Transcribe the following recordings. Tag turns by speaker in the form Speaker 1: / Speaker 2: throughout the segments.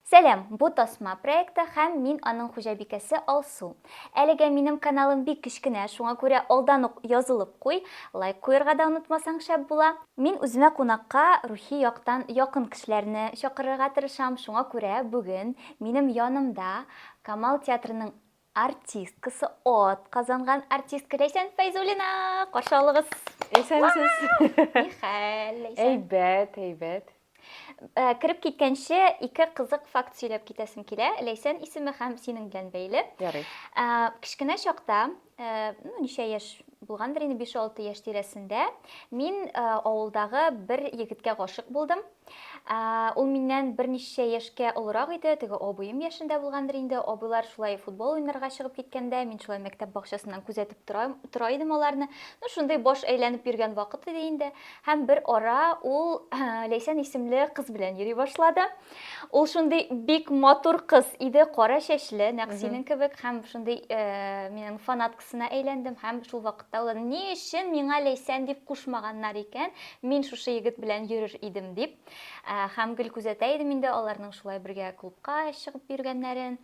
Speaker 1: Сәлам, бу Тасма проекты һәм мин аның хуҗабикәсе Алсу. Әлегә минем каналым бик кечкенә, шуңа күрә алдан ук язылып куй, лайк куерга да онытмасаң шәп була. Мин үземә кунакка рухи яктан якын кешеләрне чакырырга тырышам, шуңа күрә бүген минем янымда Камал театрының Артисткасы ат казанган артистка Ләйсән Фәйзуллина! Каршы алыгыз! Исәнсез!
Speaker 2: Ни хәл,
Speaker 1: Ләйсән? Әйбәт, әйбәт.
Speaker 2: Э,
Speaker 1: кереп киткәнче ике кызык факт сөйләп китәсем килә. Ләйсән исеме һәм синең белән бәйле. Ярый. Э,
Speaker 2: кечкенә
Speaker 1: чакта, э, ну, ничә яшь булгандыр инде биш-алты яшь тирәсендә, мин э, авылдагы бер егеткә гашык булдым. Э, ул миннән берничә яшькә олырак иде, теге абыем яшендә булгандыр инде. Абыйлар шулай футбол уйнарга чыгып киткәндә, мин шулай мәктәп бакчасыннан күзәтеп тора, тора идем аларны. Ну, шундый баш әйләнеп йөргән вакыт иде инде. Һәм бер ара ул э, Ләйсән исемле кыз белән йөри башлады. Ул шундый бик матур кыз иде, кара чәчле, нәкъ синең кебек һәм шундый э, минем фанат кызына әйләндем һәм шул вакытта уйладым, ни өчен миңа Ләйсән дип кушмаганнар икән, мин шушы егет белән йөрер идем дип. Һәм гел күзәтә идем инде аларның шулай бергә клубка чыгып йөргәннәрен.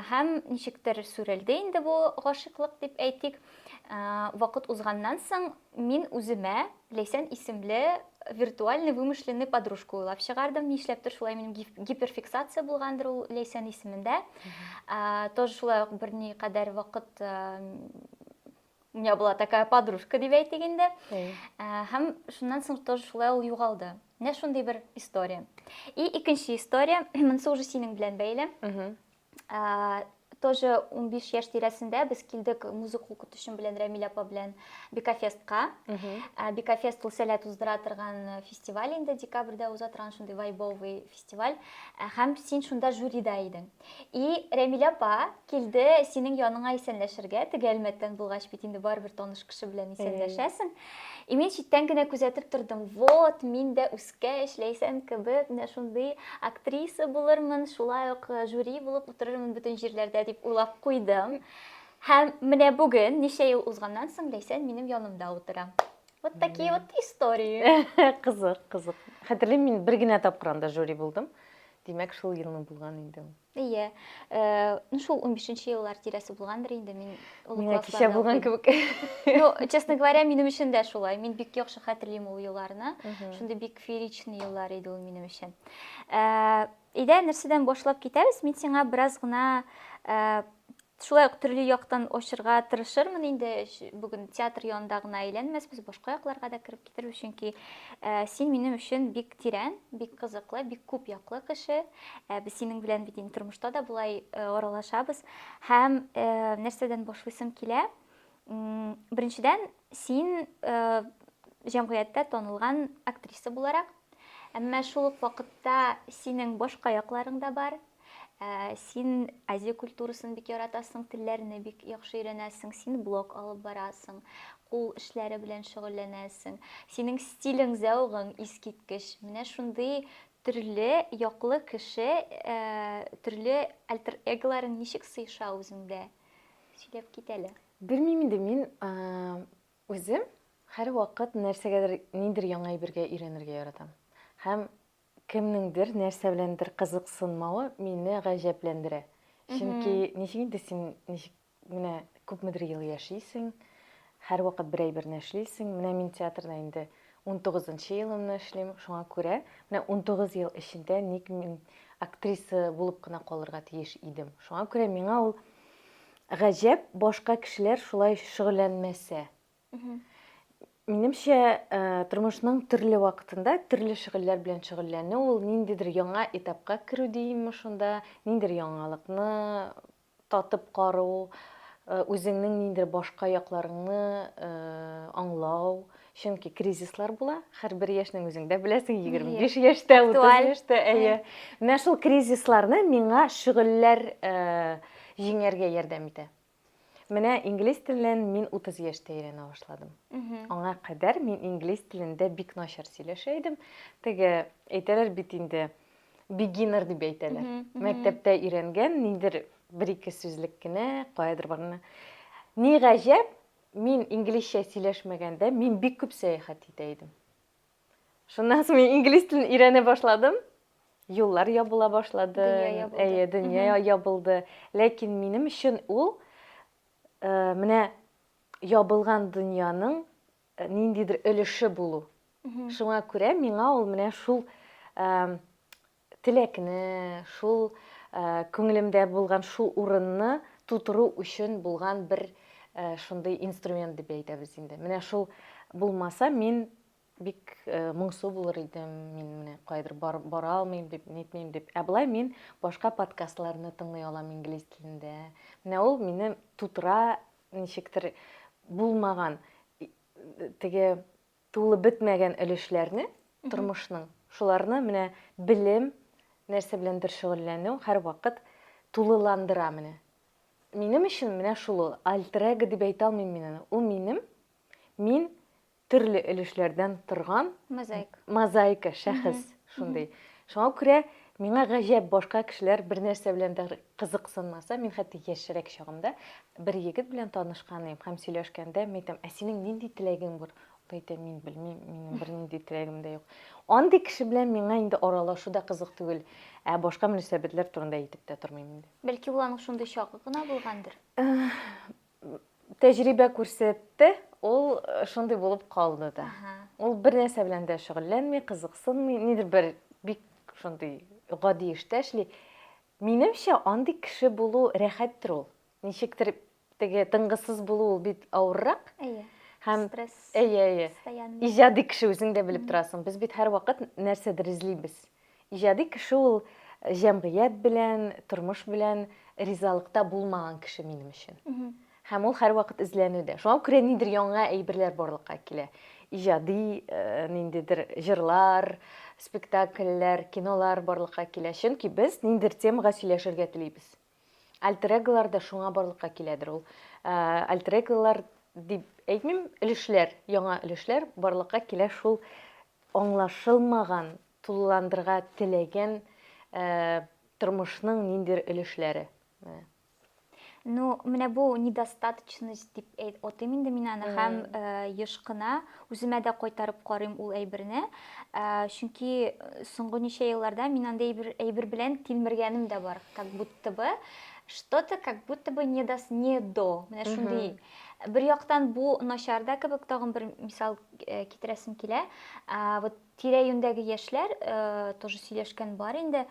Speaker 1: Һәм ничектер сүрелде инде бу гашыйклык дип әйтик. Вакыт узганнан соң Мин үземә Ләйсән исемле виртуальный вымышленный подружка уйлап чыгардым. Нишләптер шулай минем гиперфиксация булгандыр ул Ләйсән исемендә. Тоже шулай ук берни кадәр вакыт у меня была такая подружка дип әйтик инде. Һәм шуннан соң тоже шулай ул югалды. Менә шундый бер история. И икенче история, монысы уже синең белән бәйле. Ә, тоже 15 яшь тирәсендә без килдек музыка укытучым белән Рәмилә апа белән Бекафестка. Ә, Бекафест ул сәләт уздыра торган фестиваль инде декабрьдә уза торган шундый вайбовый фестиваль. Ә, һәм син шунда жюрида идең. И Рәмилә апа килде синең яныңа исәнләшергә, теге Әлмәттән булгач бит инде барыбер таныш кеше белән исәнләшәсең. И мин читтән генә күзәтеп тордым. Вот, мин дә үз Кә эшләйсән кебек, менә шундый актриса булырмын, шулай ук э, жюри булып утырырмын бөтен җирләрдә дип уйлап куйдым. Һәм менә бүген, ничә ел узганнан соң, Ләйсән минем янымда утыра. Вот такие вот истории. Кызык, кызык.
Speaker 2: Хәтерлим, мин бер генә тапкыр анда жюри булдым. Димәк, шул елны булган инде. Әйе.
Speaker 1: Э, ну шул 15-нче еллар тирәсе булгандыр инде мин олы Менә кичә булган
Speaker 2: кебек. Ну, честно
Speaker 1: говоря, минем өчен дә шулай. Мин бик яхшы хәтерлим ул елларны. Шундый бик фееричный еллар иде ул минем өчен. Э, Идә нәрсәдән башлап китәбез? Мин сиңа бераз гына э, Шулай ук төрле яктан ачырга тырышырмын инде. Бүген театр янында гына әйләнмәсбез, башка якларга да кереп китербез, чөнки э, син минем өчен бик тирән, бик кызыклы, бик күп яклы кеше. Э, без синең белән бит инде тормышта да болай э, аралашабыз. Һәм нәрсәдән башлыйсым килә? Беренчедән, син җәмгыятьтә танылган актриса буларак, әмма шул ук вакытта синең башка якларың да бар. Ә, син Азия культурасын бик яратасың, телләрне бик яхшы өйрәнәсең, син блог алып барасың, кул эшләре белән шөгыльләнәсең. Синең стилең, зәвыгың искиткеч. Менә шундый төрле яклы кеше, ә, төрле альтер-эголарың ничек сыеша үзеңдә? Сөйләп кит әле. Белмим инде, мин,
Speaker 2: ә, үзем һәрвакыт нәрсәгәдер, ниндидер яңа әйбергә өйрәнергә яратам. Һәм Кемнеңдер нәрсә беләндер кызыксынмавы мине гаҗәпләндерә. Чөнки ничек инде син ничек менә күпмедер ел яшисең, һәрвакыт бер әйберне эшлисең. Менә мин театрда инде унтугызынчы елымны эшлим, шуңа күрә менә унтугыз ел эчендә ник мин актриса булып кына калырга тиеш идем? Шуңа күрә миңа ул гаҗәп, башка кешеләр шулай шөгыльләнмәсә, Минемчә, э, тормышның төрле вакытында төрле шөгыльләр белән шөгыльләнү ул ниндидер яңа этапка керү димме шунда, ниндидер яңалыкны татып кару, э, үзеңнең ниндидер башка якларыңны э, аңлау. Чөнки кризислар була, һәрбер яшьнең үзең дә беләсең, 25 яшьтә, 30 Актуаль. яшьтә, әйе. Менә шул кризисларны миңа шөгыльләр э, җиңәргә ярдәм итә. Менә инглиз телен мин 30 яшьтә өйрәнә башладым. Аңа кадәр мин инглиз телендә бик начар сөйләшә идем. Теге әйтәләр бит инде beginner дип әйтәләр. Мәктәптә өйрәнгән ниндер бер ике сүзлек кенә, каядыр барганда. Ни гаҗәп, мин инглизчә сөйләшмәгәндә, мин бик күп сәяхәт итә идем. Шуннан соң мин инглиз телен өйрәнә башладым. Юллар ябыла башлады. Дөнья ябылды. Әйе,
Speaker 1: дөнья ябылды.
Speaker 2: Ләкин минем өчен ул э, менә ябылган дөньяның э, ниндидер өлеше булу. Шуңа күрә миңа ул менә шул э, теләкне, шул күңелемдә булган шул урынны тутыру өчен булган бер шундый инструмент дип әйтәбез инде. Менә шул булмаса, мин бик моңсу булыр идем, мин менә кайдыр бара алмыйм дип, нитмим дип. Ә болай мин башка подкастларны тыңлый алам инглиз телендә. Менә ул мине тутыра, ничектер булмаган теге Тулы бетмәгән өлешләрне тормышның, шуларны менә белем, нәрсә беләндер шөгыльләнү һәрвакыт тулыландыра менә. Минем өчен менә шул ул. Альтер-эго дип әйтә алмыйм мин аны. Ул минем, мин төрле өлешләрдән торган мозаика шәхес шундый. Шуңа күрә Миңа гаҗәп, башка кешеләр бер нәрсә белән дә кызыксынмаса, мин хәтта яшьрәк чагымда бер егет белән танышкан идем һәм сөйләшкәндә мин әйтәм, ә синең нинди теләгең бар? Ул әйтә, мин белмим, минем бернинди теләгем дә юк. Андый кеше белән миңа инде аралашу да кызык түгел, ә башка мөнәсәбәтләр турында әйтеп тә тормыйм инде. Бәлки ул аның шундый
Speaker 1: чагы гына булгандыр?
Speaker 2: Тәҗрибә күрсәтте, ул шундый булып калды да. Ул бер нәрсә белән дә шөгыльләнми, кызыксынмый, нидер бер бик шундый гади эштә эшли. Минемчә, андый кеше булу рәхәттер ул. Ничектер теге тынгысыз булу ул бит авыррак. Әйе. Һәм стресс. Әйе, әйе.
Speaker 1: Постоянный.
Speaker 2: Иҗади кеше үзең дә белеп торасың. Без бит һәрвакыт нәрсәдер эзлибез. Иҗади кеше ул җәмгыять белән, тормыш белән ризалыкта булмаган кеше минем өчен. Һәм ул һәрвакыт эзләнүдә. Шуңа күрә нидер яңа әйберләр барлыкка килә. Иҗади ниндидер җырлар, спектакльләр, кинолар барлыкка килә. Чөнки без ниндидер темага сөйләшергә телибез. Альтер-эголар да шуңа барлыкка киләдер. Ул альтер-эголар дип әйтмим, өлешләр, яңа өлешләр барлыкка килә шул аңлашылмаган Тулыландырга теләгән тормышның ниндер өлешләре? Менә.
Speaker 1: Ну, менә бу недостаточность дип атыйм инде мин аны һәм еш кына үземә дә кайтарып карыйм ул әйберне. Чөнки соңгы ничә елларда мин андый әйбер белән тилмергәнем дә бар. Как будто бы что-то как будто бы не до, не до. Менә шундый. Бер яктан бу начар да кебек, тагын бер мисал китерәсем килә. Вот Тирә-юньдәге яшьләр тоже сөйләшкән бар инде.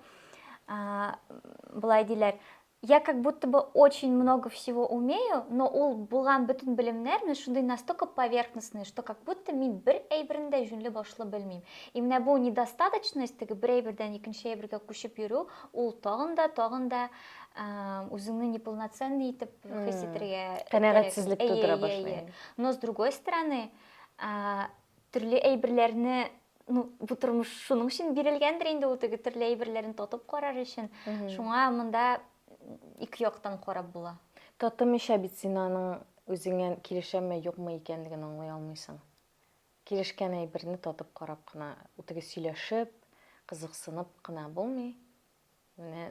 Speaker 1: Болай диләр, я как будто бы очень много всего умею, но ул булган бөтен белемнәрне шундый настолько поверхностный, что как будто мин бер әйберне дә җүнле башлы белмим. И менә бу недостаточность, теге бер әйбердән икенче әйбергә күчеп йөрү, ул тагын да, тагын да үзеңне неполноценный итеп хис итәргә. Канәгатьсезлек тудыра
Speaker 2: башлый. Но с другой
Speaker 1: стороны, Төрле әйберләрне, ну, бу тормыш шуның өчен бирелгәндер инде ул теге төрле әйберләрен татып карар өчен. Шуңа монда ике яктан карап була. Татымыйча бит
Speaker 2: син аның үзеңә килешәме, юкмы икәнлеген аңлый алмыйсың. Килешкән әйберне татып карап кына, үтеге сөйләшеп, кызыксынып кына булмый. Менә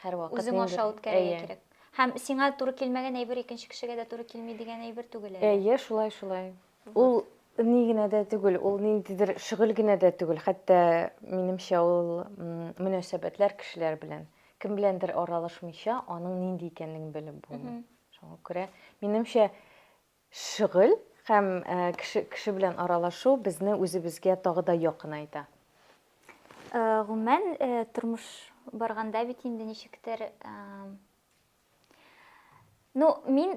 Speaker 2: һәрвакыт үзең аша үткәрергә
Speaker 1: кирәк. Һәм сиңа туры килмәгән әйбер икенче кешегә дә туры килми дигән әйбер түгел әле. Әйе, шулай, шулай.
Speaker 2: Ул ни генә дә түгел, ул ниндидер шөгыль генә дә түгел, хәтта минемчә ул мөнәсәбәтләр кешеләр белән. Кем беләндер аралашмыйча, аның нинди икәнлеген белеп булмый. Шуңа күрә, минемчә, Шөгыль һәм кеше кеше белән аралашу безне үзебезгә тагы да якынайта. Гомумән,
Speaker 1: тормыш барганда бит инде ничектер, ну, мин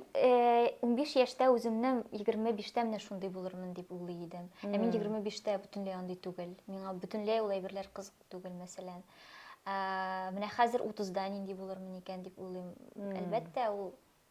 Speaker 1: унбиш яшьтә үземне егерме биштә менә шундый булырмын дип уйлый идем. Ә мин егерме биштә бөтенләй андый түгел. Миңа бөтенләй ул әйберләр кызык түгел, мәсәлән. Менә хәзер утызда нинди булырмын икән дип уйлыйм. Әлбәттә, ул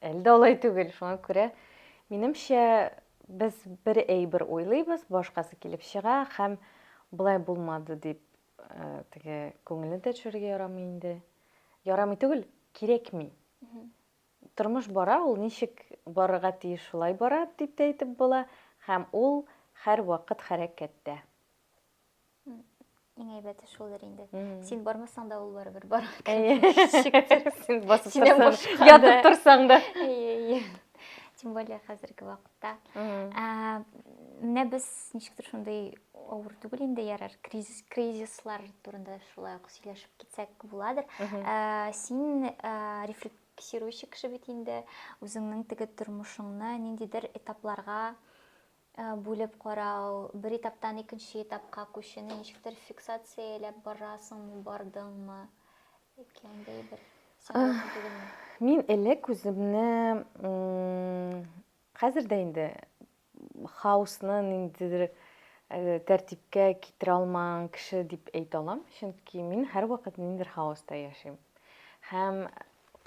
Speaker 2: Әлдә алай түгел, шуңа күрә минемчә без бер әйбер уйлыйбыз, башкасы килеп чыга һәм болай булмады дип э, теге күңелне дә төшерергә ярамый инде. Ярамый түгел, кирәкми. Тормыш бара, ул ничек барырга тиеш шулай бара дип тә әйтеп була һәм ул һәр вакыт хәрәкәттә.
Speaker 1: Иң әйбәте шулдыр инде. Син бармасаң да
Speaker 2: ул
Speaker 1: барыбер бар. Син
Speaker 2: басып торсаң, ятып торсаң
Speaker 1: да. Тем более хәзерге вакытта. Менә без ничектер шундый авыр түгел инде ярар. Кризис кризислар турында шулай ук сөйләшеп китсәк буладыр. Син рефлексирующий кеше бит инде. Үзеңнең теге тормышыңны ниндидер этапларга Бүлеп карау, бер этаптан икенче этапка күчүне ничектер фиксацияләп барасыңмы, бардыңмы? Яки андый бер
Speaker 2: Мин элек үземне хәзер дә инде хаосны ниндидер э, тәртипкә китерә алмаган кеше дип әйтә алам, чөнки мин һәрвакыт ниндидер хаоста яшим. Һәм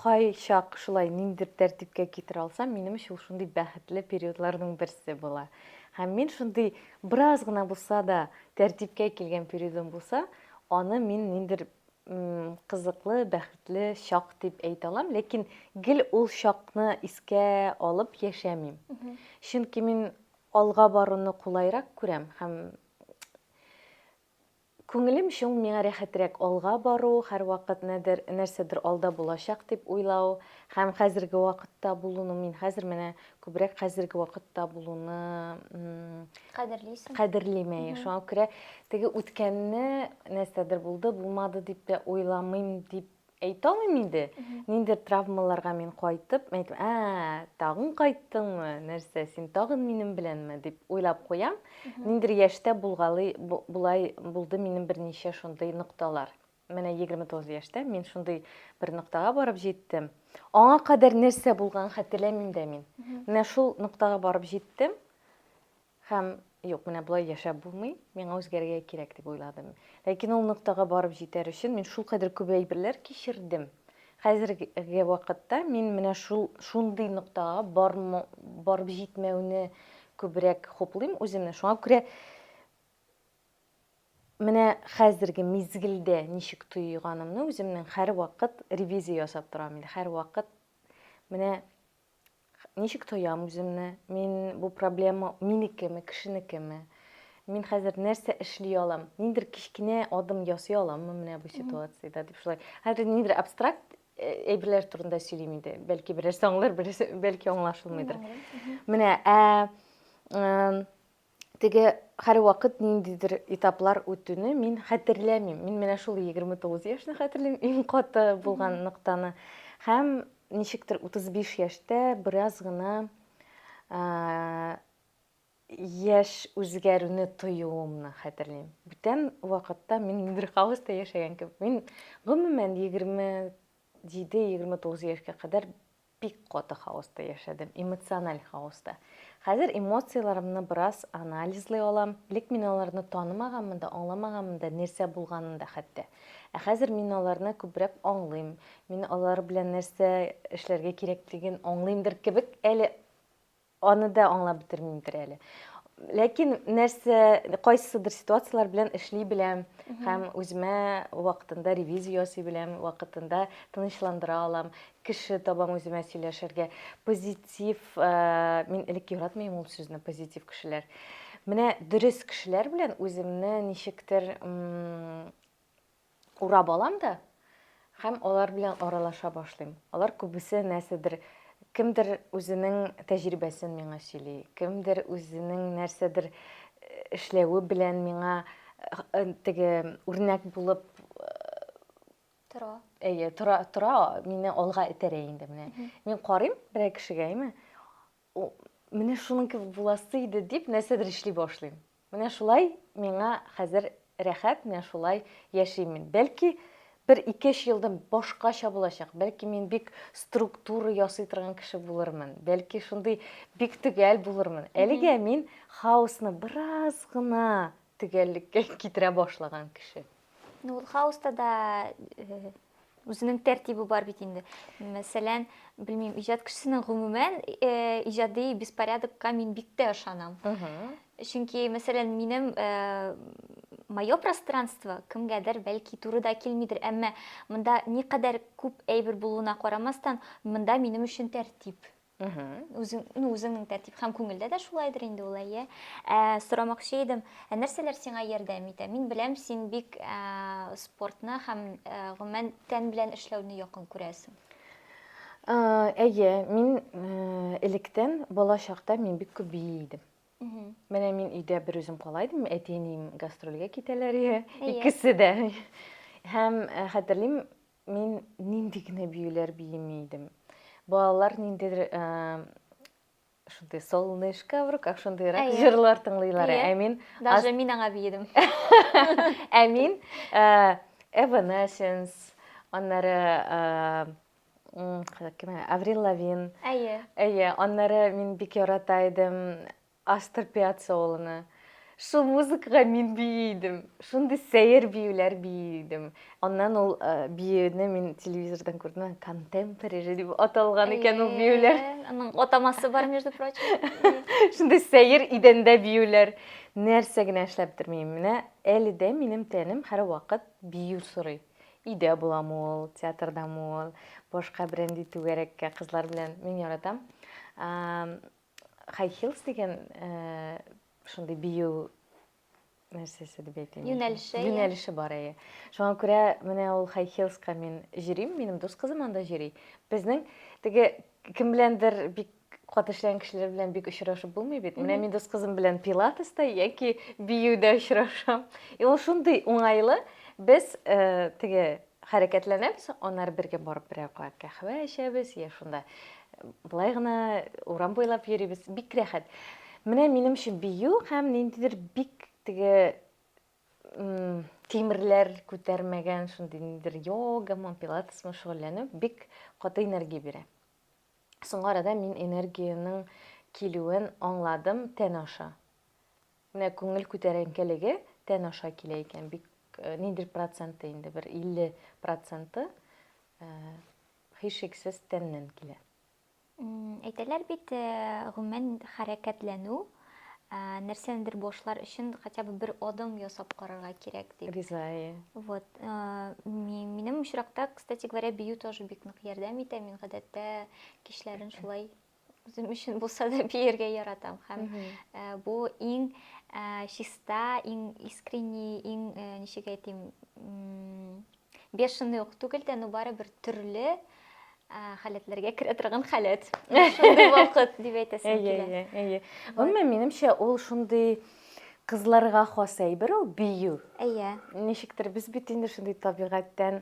Speaker 2: Кайчак шулай ниндидер тәртипкә китерә алсам, минем өчен ул шундый бәхетле периодларның берсе була. Һәм мин шундый бераз гына булса да тәртипкә килгән периодым булса, аны мин ниндидер кызыклы, бәхетле чак дип әйтә алам, ләкин гел ул чакны искә алып яшәмим. Чөнки мин алга баруны кулайрак күрәм һәм Күңелем чуң, миңа рәхәтрәк алга бару, һәрвакыт нәдер, нәрсәдер алда булачак дип уйлау һәм хәзерге вакытта булуны, мин хәзер менә күбрәк хәзерге вакытта булуны
Speaker 1: Кадерлисең. кадерлим, әйе.
Speaker 2: Шуңа күрә теге үткәнне, нәрсәдер булды, булмады дип тә уйламыйм, дип Әйтә алмыйм инде, ниндидер травмаларга мин кайтып, мен әйтәм, ә, тагын кайттыңмы, нәрсә, син тагын минем беләнме, дип уйлап куям. Ниндидер яшьтә булгалы, болай булды минем берничә шундый нокталар. Менә 29 яшьтә мин шундый бер ноктага барып җиттем. Аңа кадәр нәрсә булган хәтерләмим дә мин. Менә шул ноктага барып җиттем. Һәм, юк, менә болай яшәп булмый, миңа үзгәрергә кирәк, дип уйладым. Ләкин ул ноктага барып җитәр өчен мин шулкадәр күп әйберләр кичердем. Хәзерге вакытта мин менә шул, шундый ноктага бармы, барып җитмәүне күбрәк хуплыйм үземне. Шуңа күрә менә хәзерге мизгелдә ничек тоеганымны үземнең һәрвакыт ревизия ясап торам инде. Һәрвакыт менә Ничек тоям үземне? Мин бу проблема минекеме, кешенекеме? Мин хәзер нәрсә эшли алам? Ниндер кечкенә адым ясый аламмы менә бу ситуациядә дип шулай. Хәзер ниндер абстракт әйберләр турында сөйлим инде. Бәлки берәрсе аңлар, берәрсе бәлки аңлашылмыйдыр. Менә ә теге һәрвакыт ниндидер этаплар үтүне мин хәтерләмим. Мин менә шул 29 яшьне хәтерлим, иң каты булган ноктаны. Һәм ничектер 35 яшьтә бераз гына яшь үзгәрүне тоюымны хәтерлим. Бүтән вакытта мин ниндидер хаоста яшәгән кебек. Мин гомумән 27-29 яшькә кадәр Бик каты хаоста яшәдем, эмоциональ хаоста. Хәзер эмоцияләремне бераз анализлый алам. Элек мин аларны танымаганмын да, аңламаганмын да, нәрсә булганын да хәтта. Ә хәзер мин аларны күбрәк аңлыйм. Мин алар белән нәрсә эшләргә кирәклеген аңлыймдыр кебек әле. Аны да аңлап бетермимдер әле. Ләкин нәрсә, кайсыдыр ситуацияләр белән эшли беләм һәм үземә вакытында ревизия ясый беләм, вакытында тынычландыра алам, кеше табам үземә сөйләшергә. Позитив, э, мин элек яратмыйм ул сүзне, позитив кешеләр. Менә дөрес кешеләр белән үземне ничектер урап алам да һәм алар белән аралаша башлыйм. Алар күбесе нәрсәдер кемдер үзенең тәҗрибәсен миңа сөйли, кемдер үзенең нәрсәдер э, эшләве белән миңа э, теге үрнәк булып э, тора. Әйе, тора, тора, мине алга этәрә инде менә. Мин карыйм берәр кешегә, әйме? О, менә шуның кебек буласы иде, дип нәрсәдер эшли башлыйм. Менә шулай миңа хәзер рәхәт, менә шулай яшим мин. Бәлки, бер ике-өч елдан башкача булачак, бәлки мин бик структура ясый торган кеше булырмын, бәлки шундый бик төгәл булырмын. Әлегә мин хаосны бераз гына төгәллеккә китерә башлаган кеше. Ну, ул хаоста
Speaker 1: да үзенең тәртибе бар бит инде мәсәлән белмим иҗат кешесенең гомумән э, иҗади беспорядокка мин бик тә ышанам чөнки мәсәлән минем э, мое пространство кемгәдер бәлки туры да килмидер әмма монда никадәр күп әйбер булуына карамастан монда минем өчен тәртип үзеңнең тәртип һәм күңелдә дә шулайдыр инде ул әйе ә, сорамакчы идем ә нәрсәләр сиңа ярдәм итә мин беләм син бик ә, спортны һәм ә, гомумән тән белән эшләүне якын күрәсең әйе
Speaker 2: мин ә, электән бала чакта мин бик күп бии идем менә мин өйдә бер үзем кала идем әти әнием гастрольгә китәләр икесе дә һәм хәтерлим Мин нинди генә биюләр биеми идем. Балалар ниндидер шундый солнышко в руках шундыйрак җырлар тыңлыйлар. Ә мин даже мин аңа биедем.
Speaker 1: Ә
Speaker 2: мин Evanescence, аннары кем? Аврил Лавин. Әйе. Әйе, аннары мин бик ярата идем. Астор Пиаццоланы. Шул музыкага мин бии идем. Шундый сәер биюләр бии идем. Аннан ул биюне мин телевизордан күрдем, контемпорери дип аталган икән ул биюләр. Аның атамасы
Speaker 1: бар, между прочим. Шундый
Speaker 2: сәер идәндә биюләр. Нәрсә генә эшләп тормыйм. Менә әле дә минем тәнем һәрвакыт бию сорый. Өйдә буламы ул, театрдамы ул, башка берәндәй түгәрәккә кызлар белән. Мин яратам. Хай хилс дигән шундый бию нәрсәсе дип әйтим. Юнәлеше. Юнәлеше бар әйе. Шуңа күрә менә ул хай хилска мин җөрим, минем дус кызым анда җөри. Безнең теге кем беләндер бик кат эшләгән кешеләр белән бик очрашып булмый бит. Менә мин дус кызым белән пилатеста яки биюдә очрашам. И ул шундый уңайлы. Без теге Хәрәкәтләнәбез, аннары бергә барып берәр кат каһвә эчәбез, йә шунда болай гына урам буйлап йөрибез. Бик рәхәт. Менә минем өчен бию һәм ниндидер бик теге тимерләр күтәрмәгән шундый ниндидер йогамы, пилатесмы шөгыльләнү бик каты энергия бирә. Соңгы арада мин энергиянең килүен аңладым тән аша. Менә күңел күтәренкелеге тән аша килә икән, бик ниндер проценты инде, бер 50 проценты һичшиксез тәннән килә.
Speaker 1: Әйтәләр бит, гомумән хәрәкәтләнү, нәрсәнедер башлар өчен хотя бы бер адым ясап карарга кирәк дип. Риза, әйе. Вот. Минем очракта, кстати говоря, бию тоже бик нык ярдәм итә. Мин гадәттә кичләрен шулай Үзем өчен булса да биергә яратам һәм бу иң чиста, иң искренний, иң ничек әйтим, бешеный ук түгел дә, но барыбер төрле халәтләргә керә торган халәт. Шундый вакыт дип әйтәсем килә. Әйе, әйе. Гомумән,
Speaker 2: минемчә, ул шундый кызларга хас әйбер ул бию. Әйе.
Speaker 1: Ничектер без
Speaker 2: бит инде шундый табигатьтән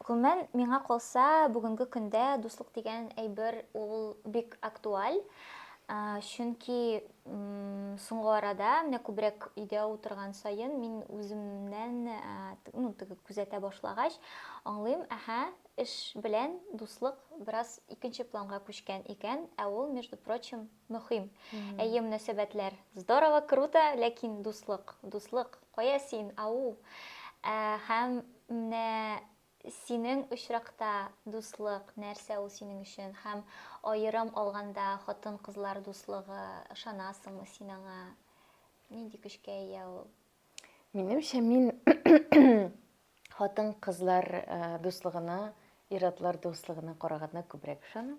Speaker 1: Гомумән, миңа калса, бүгенге көндә дуслык дигән әйбер ул бик актуаль. Чөнки соңгы арада, менә күбрәк өйдә утырган саен, мин үземнән, ну, теге күзәтә башлагач, аңлыйм, әһә, эш белән дуслык бераз икенче планга күчкән икән, ә ул, между прочим, Мөхим. Әйе, мөнәсәбәтләр. Здорово, круто, ләкин дуслык, дуслык, кая син, ау? Ә, һәм менә синең очракта дуслык, нәрсә ул синең өчен? Һәм аерым алганда хатын-кызлар дуслыгы, ышанасыңмы син аңа? Нинди көчкә ия ул? Минемчә,
Speaker 2: мин хатын-кызлар дуслыгына, ир-атлар дуслыгына караганда күбрәк ышанам.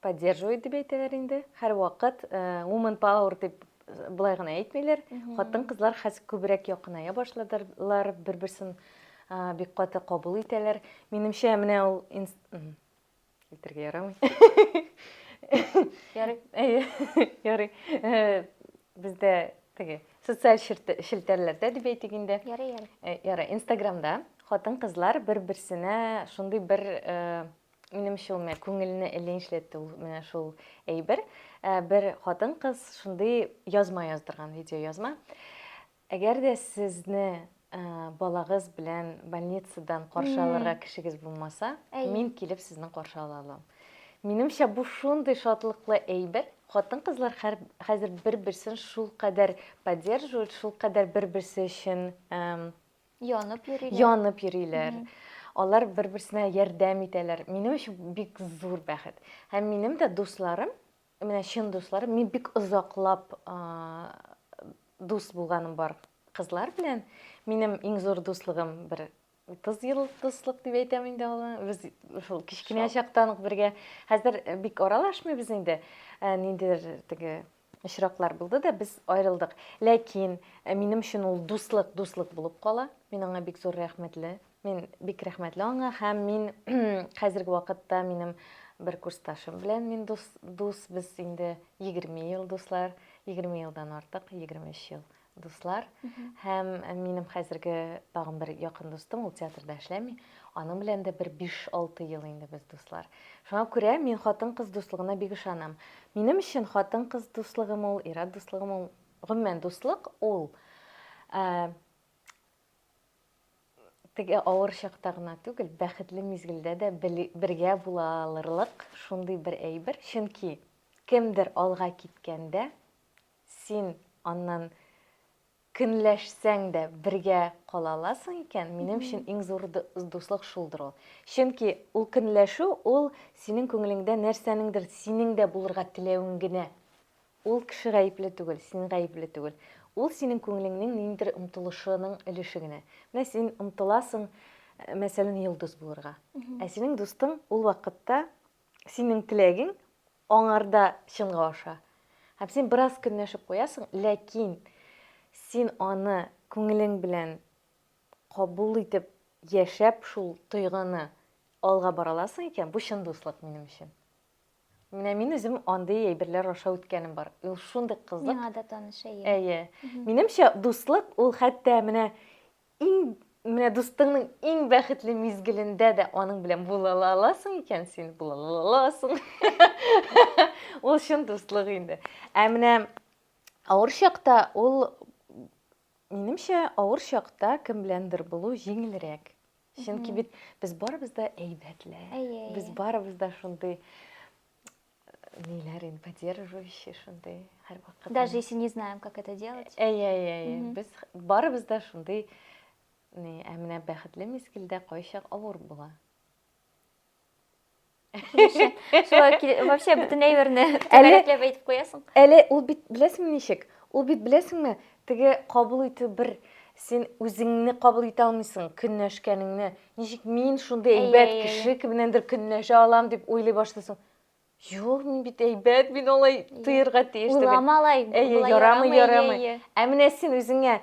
Speaker 2: Поддерживает дип әйтәләр инде. Һәрвакыт woman power дип былай гына әйтмиләр. Хатын-кызлар хәзер күбрәк якыная башладылар, бер-берсен бик каты кабул итәләр. Минемчә, менә ул әйтергә ярамый.
Speaker 1: Ярый. Әйе, ярый.
Speaker 2: Бездә теге социаль челтәрләрдә дип әйтик инде. Ярый, ярый. Ярый,
Speaker 1: Инстаграмда
Speaker 2: хатын-кызлар бер-берсенә шундый бер Минемчә, ул менә күңелне эленчләтте ул менә шул әйбер. Ә, бер хатын-кыз шундый язма яздырган, видеоязма. Әгәр дә сезне ә, балагыз белән больницадан каршы алырга кешегез булмаса, Әй. мин килеп сезне каршы ала алам. Минемчә, бу шундый шатлыклы әйбер. Хатын-кызлар хәр- хәзер бер-берсен шулкадәр поддерживают, шулкадәр бер-берсе өчен эм, Янып йөриләр. Янып йөриләр. Mm -hmm. Алар бер-берсенә ярдәм итәләр. Минем өчен бик зур бәхет. Һәм минем дә дусларым, менә чын дусларым, мин бик озаклап дус булганым бар кызлар белән. Минем иң зур дуслыгым бер 30 ел дуслык дип әйтәм инде аны. Без шул кечкенә чактан ук бергә. Хәзер бик аралашмыйбыз инде. Ниндидер теге Очраклар булды да, без аерылдык. Ләкин минем өчен ул дуслык, дуслык булып кала. Мин аңа бик зур рәхмәтле. Мин бик рәхмәтле аңа һәм мин хәзерге вакытта минем бер курсташым белән мин дус, дус без инде 20 ел дуслар, 20 елдан артык, 23 ел дуслар һәм минем хәзерге тагын бер якын дустым, ул театрда эшләми. Аның белән дә бер 5-6 ел инде без дуслар. Шуңа күрә мин хатын-кыз дуслыгына бик ышанам. Минем өчен хатын-кыз дуслыгым ул, ир-ат дуслыгым ул, гомумән дуслык ул ә, теге авыр чакта гына түгел, бәхетле мизгелдә дә бергә була алырлык шундый бер әйбер, чөнки кемдер алга киткәндә Син аннан көнләшсәң дә бергә кала аласың икән, минем өчен иң зур дуслык шулдыр ул. Чөнки ул көнләшү, ул синең күңелеңдә нәрсәнеңдер синең дә булырга теләвең генә. Ул кеше гаепле түгел, син гаепле түгел. Ул синең күңелеңнең ниндидер омтылышының өлеше генә. Менә син омтыласың, мәсәлән, йолдыз булырга. Ә синең дустың ул вакытта синең теләгең Аңарда чынга аша. Һәм син бераз көнләшеп куясың, ләкин син аны күңелең белән кабул итеп, яшәп шул тойгыны алга бара аласың икән, бу чын дуслык минем өчен. Менә мин үзем андый әйберләр аша үткәнем бар. Ул шундый кызык. Миңа да таныш, әйе.
Speaker 1: Әйе. Минемчә,
Speaker 2: дуслык ул хәтта менә Иң менә дустыңның иң бәхетле мизгелендә дә аның белән була аласың икән син, була аласың. Ул чын дуслык инде. Ә менә авыр чакта ул минемчә авыр чакта кем беләндер булу җиңелрәк. Чөнки бит без барыбыз да әйбәтле. Без барыбыз да шундый ниләрен поддерживающий шундый һәрвакыт даже если не знаем как
Speaker 1: это делать әйе әйе әйе без
Speaker 2: барыбыз да шундый ни ә менә бәхетле мизгелдә кайчак авыр була
Speaker 1: вообще бөтен әйберне түгәрәкләп әйтеп куясың әле ул бит
Speaker 2: беләсеңме ничек ул бит беләсеңме теге кабул итү бер син үзеңне кабул итә алмыйсың көнләшкәнеңне Ничек мин шундый әйбәт кеше кемнәндер көнләшә алам дип уйлый башлыйсың. Юк, мин бит әйбәт, мин алай тоерга тиеш түгел. Уйлама алай. Әйе,
Speaker 1: ярамый, ярамый.
Speaker 2: Ә менә син үзеңә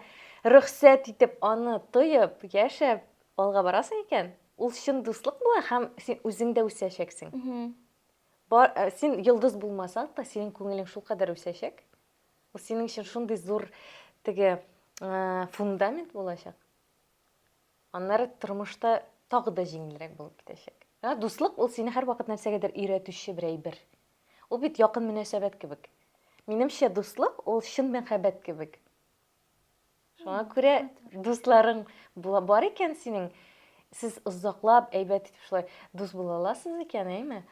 Speaker 2: рөхсәт итеп аны тоеп, яшәп алга барасың икән, ул чын дуслык була һәм син үзең дә үсәчәксең. Бар, э, син йолдыз булмасаң да, синең күңелең шул кадәр үсәчәк. Ул синең өчен шундый зур теге э, фундамент булачак. Аннары тормышта тагы да җиңелрәк булып китәчәк. Ә дуслык ул сине һәрвакыт нәрсәгәдер өйрәтүче бер әйбер. Ул бит якын мөнәсәбәт кебек. Минемчә, дуслык ул чын мәхәббәт кебек. Шуңа күрә дусларың бар икән синең, сез озаклап әйбәт итеп шулай дус була аласыз икән, әйме?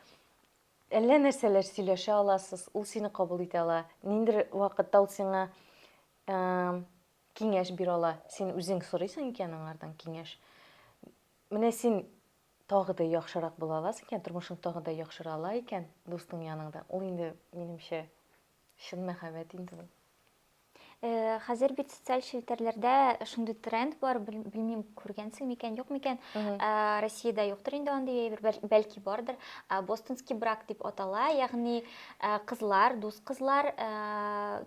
Speaker 2: Әллә нәрсәләр сөйләшә аласыз, ул сине кабул итә ала. Ниндер вакытта ул сиңа Киңәш бир ала. Син үзең сорыйсың икән аңардан киңәш. Менә син тагы да яхшырак була аласың икән, тормышың тагы да яхшыра ала икән дустың яныңда. Ул инде, минемчә, чын мәхәббәт инде ул. Э,
Speaker 1: хәзер бит социаль челтәрләрдә шундый тренд бар, белмим, күргәнсең микән, юк микән. Э, Россиядә юктыр инде андый әйбер, бәлки бардыр. Э, бостонский брак дип атала, ягъни кызлар, дус кызлар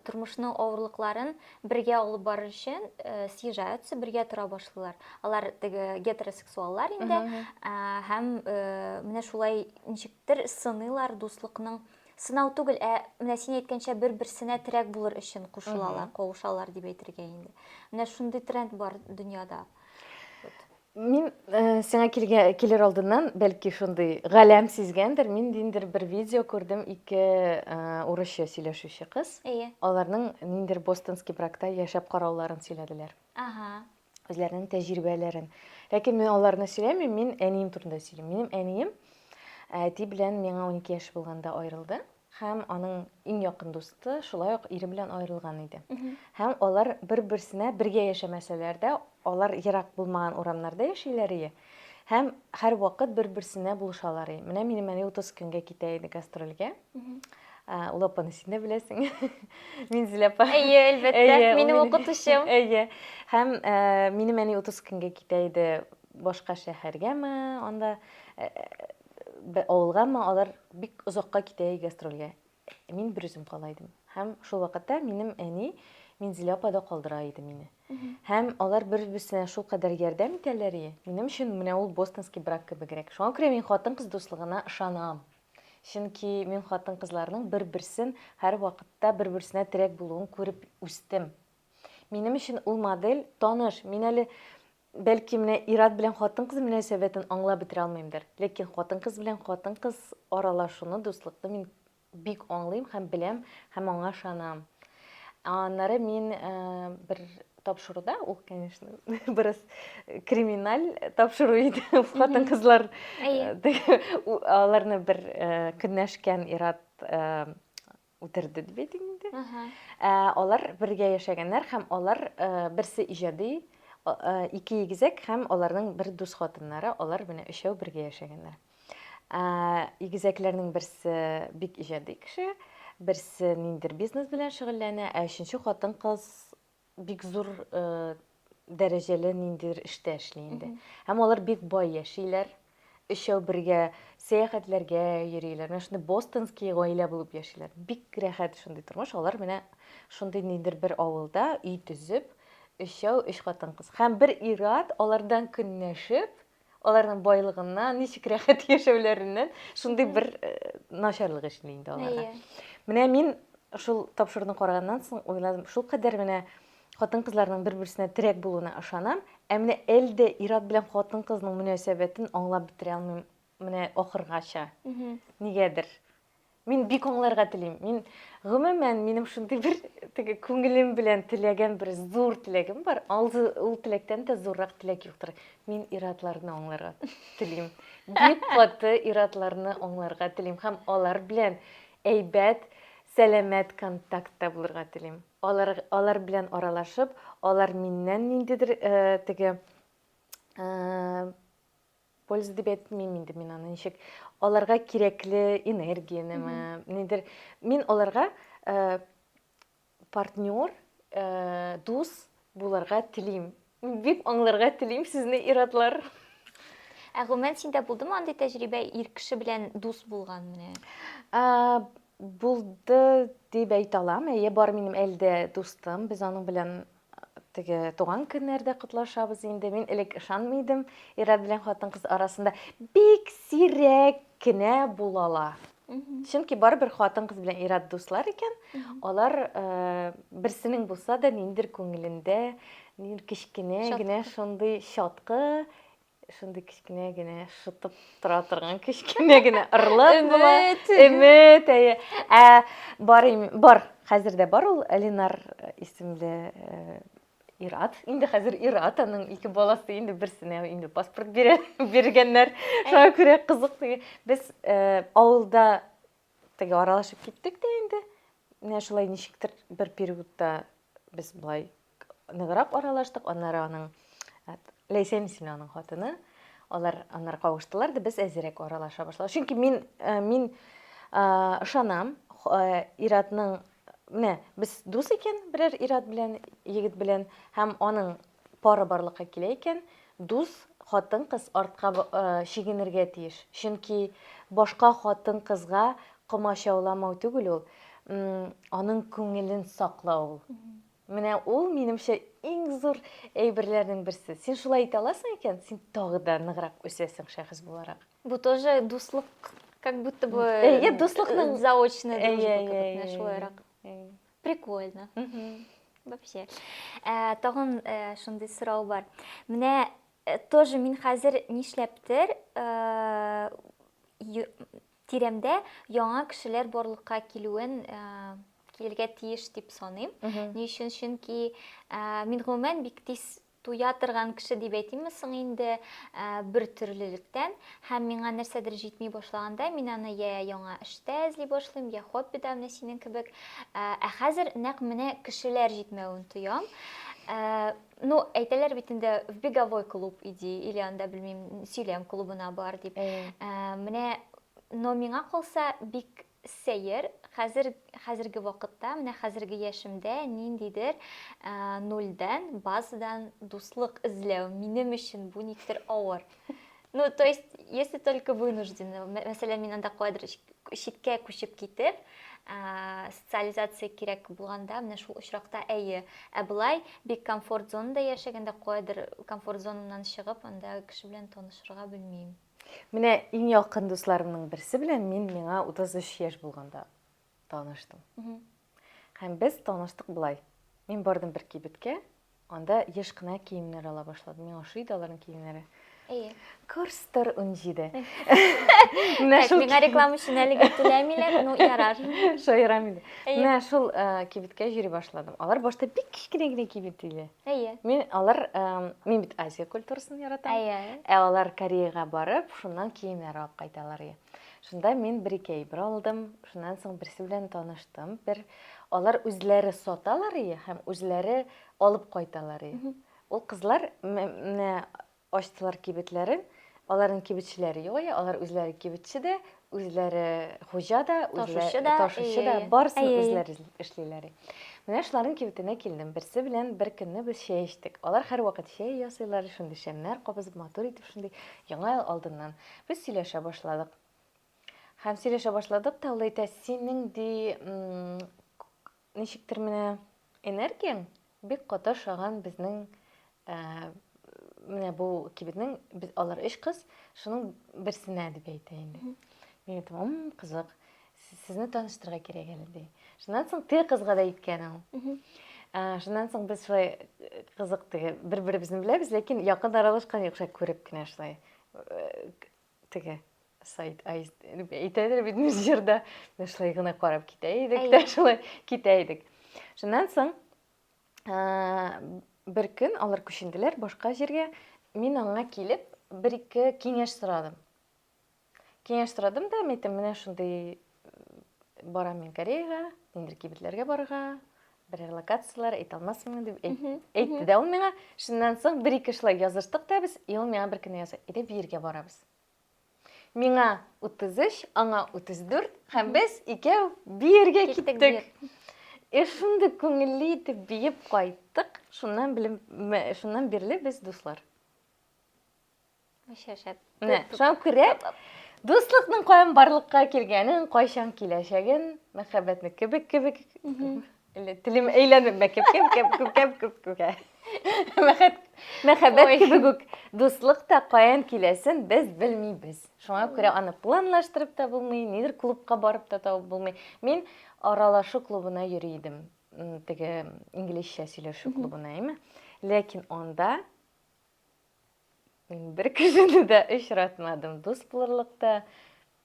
Speaker 1: тормышның авырлыкларын бергә алып барыр өчен э, съезжаются, бергә тора башлыйлар. Алар теге гетеросексуаллар инде ә, һәм э, менә шулай ничектер сыныйлар дуслыкның сынау түгел, ә менә син әйткәнчә бер-берсенә терәк булыр өчен кушылалар, кавышалар дип әйтергә инде. Менә шундый тренд бар дөньяда.
Speaker 2: Мин сиңа килер алдыннан, бәлки шундый галәм сизгәндер, мин ниндидер бер видео күрдем, ике урысча сөйләшүче кыз. Әйе. Аларның ниндидер бостонский бракта яшәп карауларын сөйләделәр. Ага. Үзләренең тәҗрибәләрен. Ләкин мин аларны сөйләмим, мин әнием турында сөйлим. Минем әнием әти белән миңа 12 яшь булганда аерылды. һәм аның иң якын дусты шулай ук ире белән аерылган иде. Һәм алар бер-берсенә бергә яшәмәсәләр дә, алар ерак булмаган урамнарда яшиләр ие, һәм һәрвакыт бер-берсенә булышалар ие. Менә минем әни 30 көнгә китә иде гастрольгә. Ул апаны син дә беләсең. Минзил апа. Әйе, әлбәттә. Минем
Speaker 1: укытучым. Әйе. Һәм
Speaker 2: минем әни 30 көнгә китә иде башка шәһәргәме, анда бер авылга, әмма алар бик озакка китә гастрольгә. Мин бер үзем кала идем. Һәм шул вакытта минем әни Минзилә апа да калдыра иде мине. Һәм алар бер-берсенә шул кадәр ярдәм итәләр и. Минем өчен менә ул бостонский брак кебегрәк. Шуңа күрә мин хатын-кыз дуслыгына ышанам. Чөнки мин хатын-кызларның бер-берсен һәрвакытта бер-берсенә терәк булуын күреп үстем. Минем өчен ул модель таныш. Мин әле Бәлки менә ир-ат белән хатын-кыз мөнәсәбәтен аңлап бетерә алмыймдыр, ләкин хатын-кыз белән хатын-кыз аралашуны, дуслыкны мин бик аңлыйм һәм беләм һәм аңа ышанам. Аннары мин э, бер тапшыруда, ул, конечно, бераз криминаль тапшыру иде. Хатын-кызлар э, аларны бер э, көнләшкән ир-ат э, үтерде дип әйтик инде. Ә, алар бергә яшәгәннәр һәм алар ә, берсе иҗади, а- ә, ике игезәк һәм аларның бер дус хатыннары, алар менә өчәү бергә яшәгәннәр. Ә, игезәкләрнең берсе бик иҗади кеше, берсе ниндидер бизнес белән шөгыльләнә, ә өченче хатын-кыз бик зур э, дәрәҗәле ниндидер эштә эшли инде. Һәм алар бик бай яшиләр. Өчәү бергә сәяхәтләргә йөриләр. Менә шундый бостонский гаилә булып яшиләр. Бик рәхәт шундый тормыш. Алар менә шундый ниндидер бер авылда өй төзеп, өчәү өч хатын-кыз. Һәм бер ир-ат алардан көнләшеп, аларның байлыгыннан, ничек рәхәт яшәүләреннән шундый бер э, начарлык эшли инде аларга. Менә мин шул тапшыруны караганнан соң уйладым, шул кадәр менә хатын-кызларның бер-берсенә терәк булуына ышанам, ә менә әлдә ир-ат белән хатын-кызның мөнәсәбәтен аңлап бетерә алмыйм менә ахыргача. Нигәдер. Мин бик аңларга телим. Мин, гомумән, минем шундый бер теге күңелем белән теләгән бер зур теләгем бар. Алды ул теләктән дә зуррак теләк юктыр. Мин иратларны аңларга телим. Бик каты иратларны аңларга телим һәм алар белән әйбәт, сәламәт контактта булырга телим. Алар, алар белән аралашып, алар миннән ниндидер э, теге э, Польза дип әйтмим инде мин аны ничек. Аларга кирәкле энергиянеме, нидер. Мин аларга э, партнер, э, дус булырга телим. Бик аңларга телим сезне иратлар. Ә
Speaker 1: гомумән синдә булдымы андый тәҗрибә ир кеше белән дус булган менә? Ә, булды
Speaker 2: дип әйтә алам. Әйе, бар минем әлдә дустым. Без аның белән теге туган көннәрдә котлашабыз инде. Мин элек ышанмый идем, ир-ат белән хатын-кыз арасында бик сирәк кенә булалар. Чөнки барыбер хатын-кыз белән ир-ат дуслар икән, алар э, берсенең булса да ниндер күңелендә, нин кечкенә генә шундый чаткы Шундый кечкенә генә шытып тора торган кечкенә генә ырлык була. Өмет, әйе. Ә бар бар, хәзер дә бар ул Ленар э, исемле э, Ират. Инде хәзер Ират аның ике баласы инде берсенә инде паспорт бирә, биргәннәр. Шуңа күрә кызык. Без э, авылда теге аралашып киттек тә инде. Менә шулай ничектер бер периодта без былай ныграк аралаштык, аннары аның Ләйсән исемле аның хатыны, алар аннары кавыштылар да без әзерәк аралаша башладык. Чөнки мин э, мин ышанам, э, Иратның менә без дус икән берәр Ират белән, егет белән һәм аның пары барлыкка килә икән, дус хатын кыз артка э, чигенергә тиеш. Чөнки башка хатын кызга комачауламау түгел ул, аның күңелен саклау ул. Менә ул, минемчә, иң зур әйберләрнең берсе. Син шулай итә аласың икән, син тагы да ныграк үсәсең шәхес буларак. Бу тоже
Speaker 1: дуслык, как будто бы... Әйе, дуслыкның...
Speaker 2: Заочный дружба
Speaker 1: кебек, шулайрак.
Speaker 2: Прикольно.
Speaker 1: Вообще. Ә, тагын ә, шундый сорау бар. Менә тоже мин хәзер нишләптер, ә, Тирәмдә яңа кешеләр барлыкка килүен килергә тиеш дип саныйм. Ни өчен? Чөнки мин гомумән бик тиз туя торган кеше дип әйтимме соң инде бер төрлелектән һәм миңа нәрсәдер җитми башлаганда мин аны я яңа эштә эзли башлыйм я хоббида менә синең кебек ә хәзер нәкъ менә кешеләр җитмәвен тоям Ну, әйтәләр бит инде в беговой клуб иди, или анда белмим, сөйләм клубына бар дип. Ә, менә но миңа калса бик сәер, хәзер хәзерге вакытта, менә хәзерге яшемдә ниндидер нульдән, базадан дуслык эзләү минем өчен бу никтер авыр. Ну, то есть, если только вынуждены, мәсәлән, мин анда куадр читкә күчеп китеп, ә, социализация кирәк булганда, менә шул очракта әйе. Ә былай бик комфорт зонада яшәгәндә куадр комфорт зонамнан чыгып, анда кеше белән танышырга белмим. Менә иң
Speaker 2: якын дусларымның берсе белән мин миңа 33 яшь булганда Таныштым. Һәм без таныштык болай. Мин бардым бер кибеткә, анда еш кына киемнәр ала башладым. Миңа ошый иде аларның киемнәре. Әйе. Курстор 17. Менә
Speaker 1: шул миңа реклама өчен әлегә түләмиләр, ну ярар. Шаярам инде.
Speaker 2: Менә шул э, кибеткә йөри башладым. Алар башта бик кечкенә генә кибет иде. Әйе. Мин алар э, мин бит Азия культурасын яратам. Әйе. Ә алар Кореяга барып, шуннан киемнәр алып кайталар. Шунда мин бер-ике әйбер алдым, шуннан соң берсе белән таныштым. Бер алар үзләре саталар ие һәм үзләре алып кайталар ие. Ул кызлар менә ачтылар кибетләрен, аларның кибетчеләре юк ие, алар үзләре кибетче дә, үзләре хуҗа да, үзләре ташучы да, барысын үзләре эшлиләр. Менә шуларның кибетенә килдем, берсе белән бер көнне без чәй эчтек. Алар һәрвакыт чәй ясыйлар, шундый шәмнәр кабызып, матур итеп шундый, яңа ел алдыннан. Без сөйләшә башладык. Һәм сөйләшә башладык та, ул әйтә, синең ди, ничектер менә энергияң бик каты ошаган безнең менә бу кибетнең без алар өч кыз шуның берсенә дип әйтә инде мин әйтәм кызык сезне таныштырырга кирәк әле ди шуннан соң теге кызга да әйткән ул шуннан соң без шулай кызык теге бер беребезне беләбез ләкин якын аралашкан юк шулай күреп кенә шулай Теге сайт әйтәдер бит без җырда без шулай гына карап китә идек тә шулай китә идек шуннан соң бер көн алар күченделәр башка җиргә мин аңа килеп бер ике киңәш сорадым киңәш сорадым да мен әйттем менә шундый Барам мин Кореяга, нидер кибетләргә барырга, берәр локацияләр әйтә алмасмын дип әйтте дә ул миңа. Шуннан соң бер ике шулай языштык та без, и ул миңа бер көнне яза, әйдә биергә барабыз. Миңа 33, аңа 34, һәм без икәү биергә киттек. И шундый күңелле итеп биеп кайттык, шуннан белем, шуннан бирле без дуслар. Шәп, шәп. Менә, шуңа күрә дуслыкның каян барлыкка килгәнен, кайчан киләчәген, мәхәббәтне кебек кебек телем әйләнеп мәкеп кем кем күп кем күп күкә. Мәхәббәт кебек үк дуслык та каян киләсен без белмибез. Шуңа күрә аны планлаштырып та булмый, нидер клубка барып та табып булмый. Мин аралашу клубына йөри идем. Теге инглизчә сөйләшү клубына, әйме? Ләкин анда Мин бер кешене дә очратмадым. Дус булырлык та,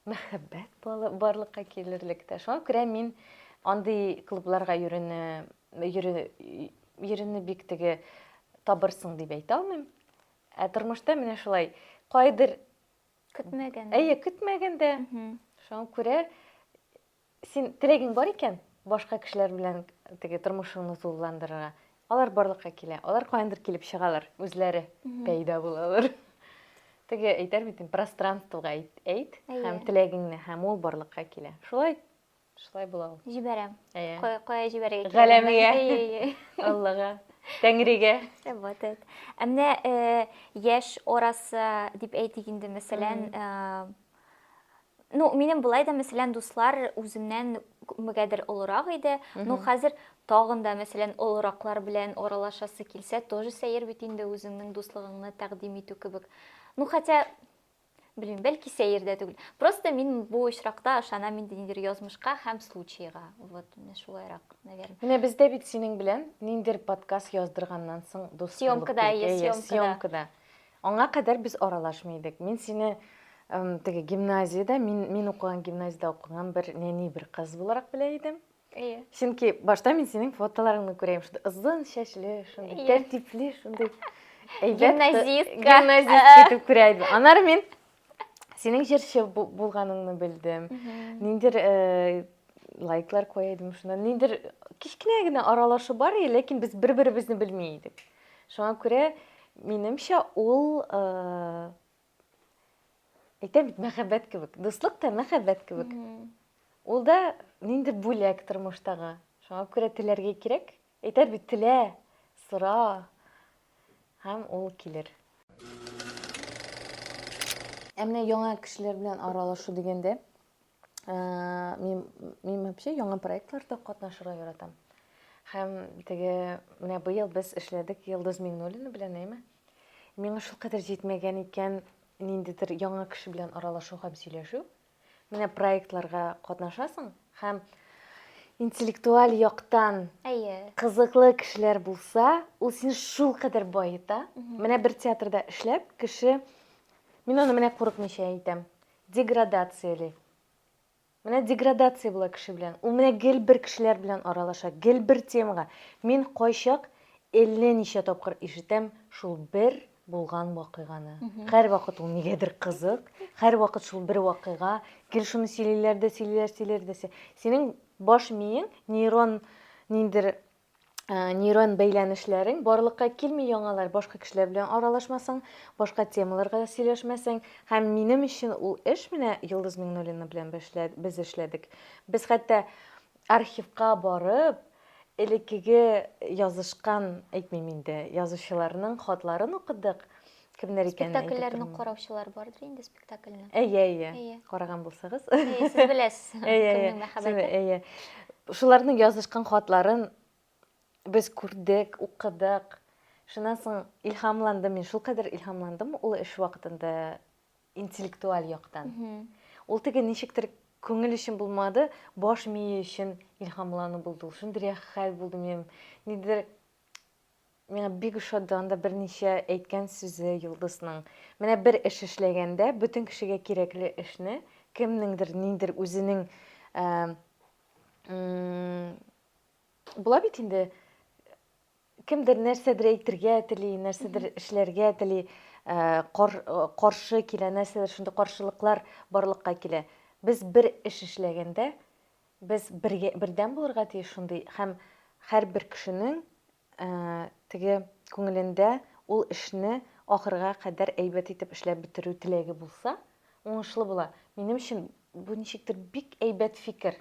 Speaker 2: мәхәббәт барлыкка килерлек тә. Шуңа күрә мин андый клубларга йөрүне йөрүне бик теге табырсың дип әйтә алмыйм. Ә тормышта менә шулай кайдыр көтмәгәндә. Әйе, көтмәгәндә. Шуңа күрә Син теләгең бар икән, башка кешеләр белән теге тормышыңны тулыландырырга. Алар барлыкка килә. Алар каяндыр килеп чыгалар, үзләре пәйда булалар. Теге әйтәр бит, пространствога әйт, әйт һәм теләгеңне, һәм ул барлыкка килә. Шулай шулай була ул. Җибәрәм.
Speaker 1: Кая кая
Speaker 2: җибәрергә кирәк?
Speaker 1: Галәмгә. Аллага.
Speaker 2: Тәңригә. Вот это.
Speaker 1: Ә менә яшь арасы дип әйтик инде, мәсәлән, Ну, минем былай да, мәсәлән, дуслар үземнән күпмегәдер олырак иде. Ну, хәзер тагын да, мәсәлән, олыраклар белән аралашасы килсә, тоже сәер бит инде үзеңнең дуслыгыңны тәкъдим итү кебек. Ну, хотя, белмим, бәлки сәер дә түгел. Просто мин бу очракта ышанам инде ниндидер язмышка һәм случайга. Вот, менә шулайрак, наверное. Менә бездә бит синең
Speaker 2: белән ниндидер подкаст яздырганнан соң дус Съемкада,
Speaker 1: съемкада.
Speaker 2: Аңа кадәр без аралашмый идек. Мин сине теге гимназиядә, мин, мин укыган гимназиядә укыган бер нәни бер кыз буларак белә идем. Әйе. Чөнки
Speaker 1: башта мин
Speaker 2: синең фотоларыңны күрәм, шундый озын чәчле, шундый тәртипле, шундый әйбәт. Гимназистка. Гимназистка итеп күрә идем. Анар мин Синең җырчы булганыңны белдем. Ниндер э, лайклар куя идем шуна. Ниндер кечкенә генә аралашу бар, ләкин без бер-беребезне белми идек. Шуңа күрә минемчә ул э, әйтәм бит мәхәббәт кебек. Дуслык та мәхәббәт кебек. Ул да ниндер бүләк тормыштагы. Шуңа күрә теләргә кирәк. Әйтәр бит, телә, сора, һәм ул килер. Ә менә яңа кешеләр белән аралашу дигәндә, мин, мин вообще яңа проектларда катнашырга яратам. Һәм теге, менә быел без эшләдек Йылдыз Миңнуллина белән, әйме? Миңа шулкадәр җитмәгән икән ниндидер яңа кеше белән аралашу һәм сөйләшү. Менә проектларга катнашасың һәм интеллектуаль яктан Әйе. кызыклы кешеләр булса, ул сине шулкадәр баета. Менә бер театрда эшләп, кеше Мин аны менә курыкмыйча әйтәм. Деградацияли. Менә деградация була кеше белән. Ул менә гел бер кешеләр белән аралаша, гел бер темага. Мин кайчак әллә ничә тапкыр ишетәм шул бер булган вакыйганы. Һәрвакыт ул нигәдер кызык, һәрвакыт шул бер вакыйга, гел шуны сөйлиләр дә, сөйлиләр, сөйлиләр дә. Синең баш миең нейрон ниндер Э, нейрон бәйләнешләрең барлыкка килми яңалар башка кешеләр белән аралашмасаң башка темаларга сөйләшмәсәң һәм минем өчен ул эш менә йолдыз миңнуллина белән без эшләдек без хәтта Архивка барып, элеккеге язышкан, әйтмим инде, язучыларның хатларын укыдык. Кемнәр икәнен әйтеп Спектакльләрне тормыйм. караучылар
Speaker 1: бардыр инде спектакльне. Әйе, әйе. Әйе.
Speaker 2: Караган булсагыз. Әйе, сез беләсез.
Speaker 1: Әйе, әйе. Кемнең мәхәббәте? Әйе.
Speaker 2: Шуларның язышкан хатларын без күрдек, укыдык. Шуннан соң илһамландым мин, шулкадәр илһамландым, ул эш вакытында интеллектуаль яктан. Ул теге ничектер күңел өчен булмады, баш мие өчен илһамлану булды ул. Шундый рәхәт хәл булды минем. Нидер миңа бик ошады анда берничә әйткән сүзе Йолдызның. Менә бер эш эшләгәндә, бөтен кешегә кирәкле эшне, кемнеңдер, нидер үзенең була бит инде Кемдер нәрсәдер әйтергә тели, нәрсәдер эшләргә тели, э, кар, э, каршы килә, нәрсәдер шундый каршылыклар барлыкка килә. Без бер эш эшләгәндә, без бергә, бердәм булырга тиеш шундый һәм һәрбер кешенең э, теге күңелендә ул эшне ахырга кадәр әйбәт итеп эшләп бетерү теләге булса, уңышлы була. Минем өчен бу ничектер бик әйбәт фикер.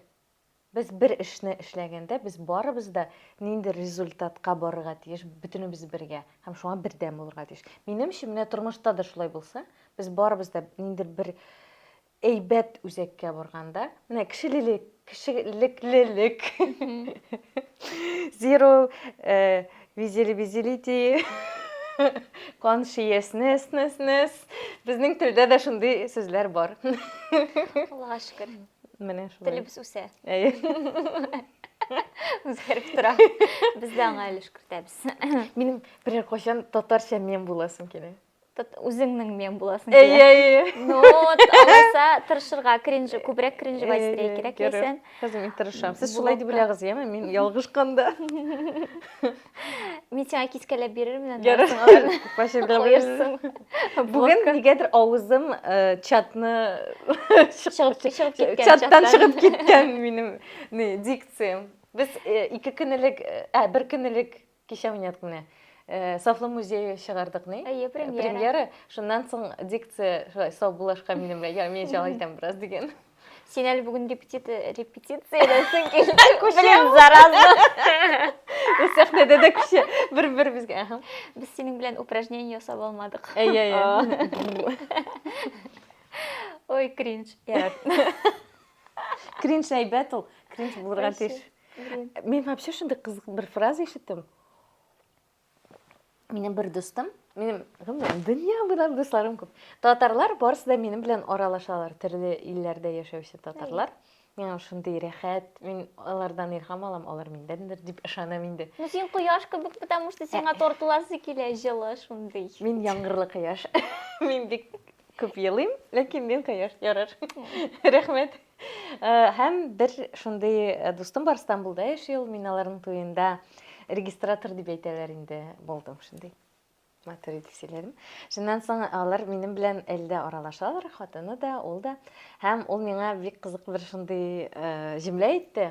Speaker 2: Без бер эшне эшләгәндә, без барыбыз да нинди результатка барырга тиеш, бөтенебез бергә һәм шуңа бердәм булырга тиеш. Минемчә, менә тормышта да шулай булса, без барыбыз да ниндидер бер әйбәт үзәккә барганда, менә кешелелек, кешелеклелек, zero э, visibility, consciousness, безнең телдә дә шундый сүзләр бар. Аллага
Speaker 1: шөкер. Менә шулай. Телебез
Speaker 2: үсә. Әйе.
Speaker 1: Үзгәреп тора. Без дә аңа өлеш кертәбез. Минем берәр
Speaker 2: кайчан татарча мем буласым килә. Үзеңнең
Speaker 1: мем буласың килә. Әйе, әйе.
Speaker 2: Ну,
Speaker 1: алайса тырышырга, кринжи, күбрәк кринжи байстрей кирәк икән. Хәзер мин тырышам.
Speaker 2: Сез шулай дип беләгез, яме, мин ялгышканда.
Speaker 1: Мин сиңа кискәләп бирермен аны. Ярар. Куерсың.
Speaker 2: Бүген нигәдер авызым э, чатны чыгып чыгып
Speaker 1: киткән. Чаттан чыгып киткән
Speaker 2: минем не дикциям. Без э, ике көн элек, э, ә бер көн элек кичә уйнадык менә. Э, Сафлы музее чыгардык ни? Әйе, премьера. Премьера. Шуннан соң дикция шулай сау булашка минем белән. Я, мин җал итәм бераз дигән. Син
Speaker 1: әле бүген репетиция репетицияләсең килде. Күчем зараза. Без сәхнәдә
Speaker 2: дә күчә. Бер-беребезгә. Ага. Без синең белән
Speaker 1: упражнение ясап алмадык. Әйе, әйе. Ой, кринж.
Speaker 2: Кринж әйбәт ул. Кринж булырга тиеш. Мин вообще шундый кызык бер фраза ишеттем. Минем бер дустым, минем гомумән дөнья буйлап дусларым күп. Татарлар барысы да минем белән аралашалар, төрле илләрдә яшәүче татарлар. Миңа шундый рәхәт, мин алардан илһам алам, алар миндәндер дип ышанам инде. Ну син кояш кебек,
Speaker 1: потому что сиңа э. тартыласы килә җылы шундый. Мин яңгырлы
Speaker 2: кояш. Мин бик күп елыйм, ләкин мин кояш ярар. Рәхмәт. Э, һәм бер шундый э, дустым бар Стамбулда яши ул, мин аларның туенда регистратор дип әйтәләр инде булдым шундый. Матур итеп сөйләдем. Шуннан соң алар минем белән әлдә аралашалар, хатыны да, ул да. Һәм ул миңа бик кызык бер шундый э, җөмлә әйтте.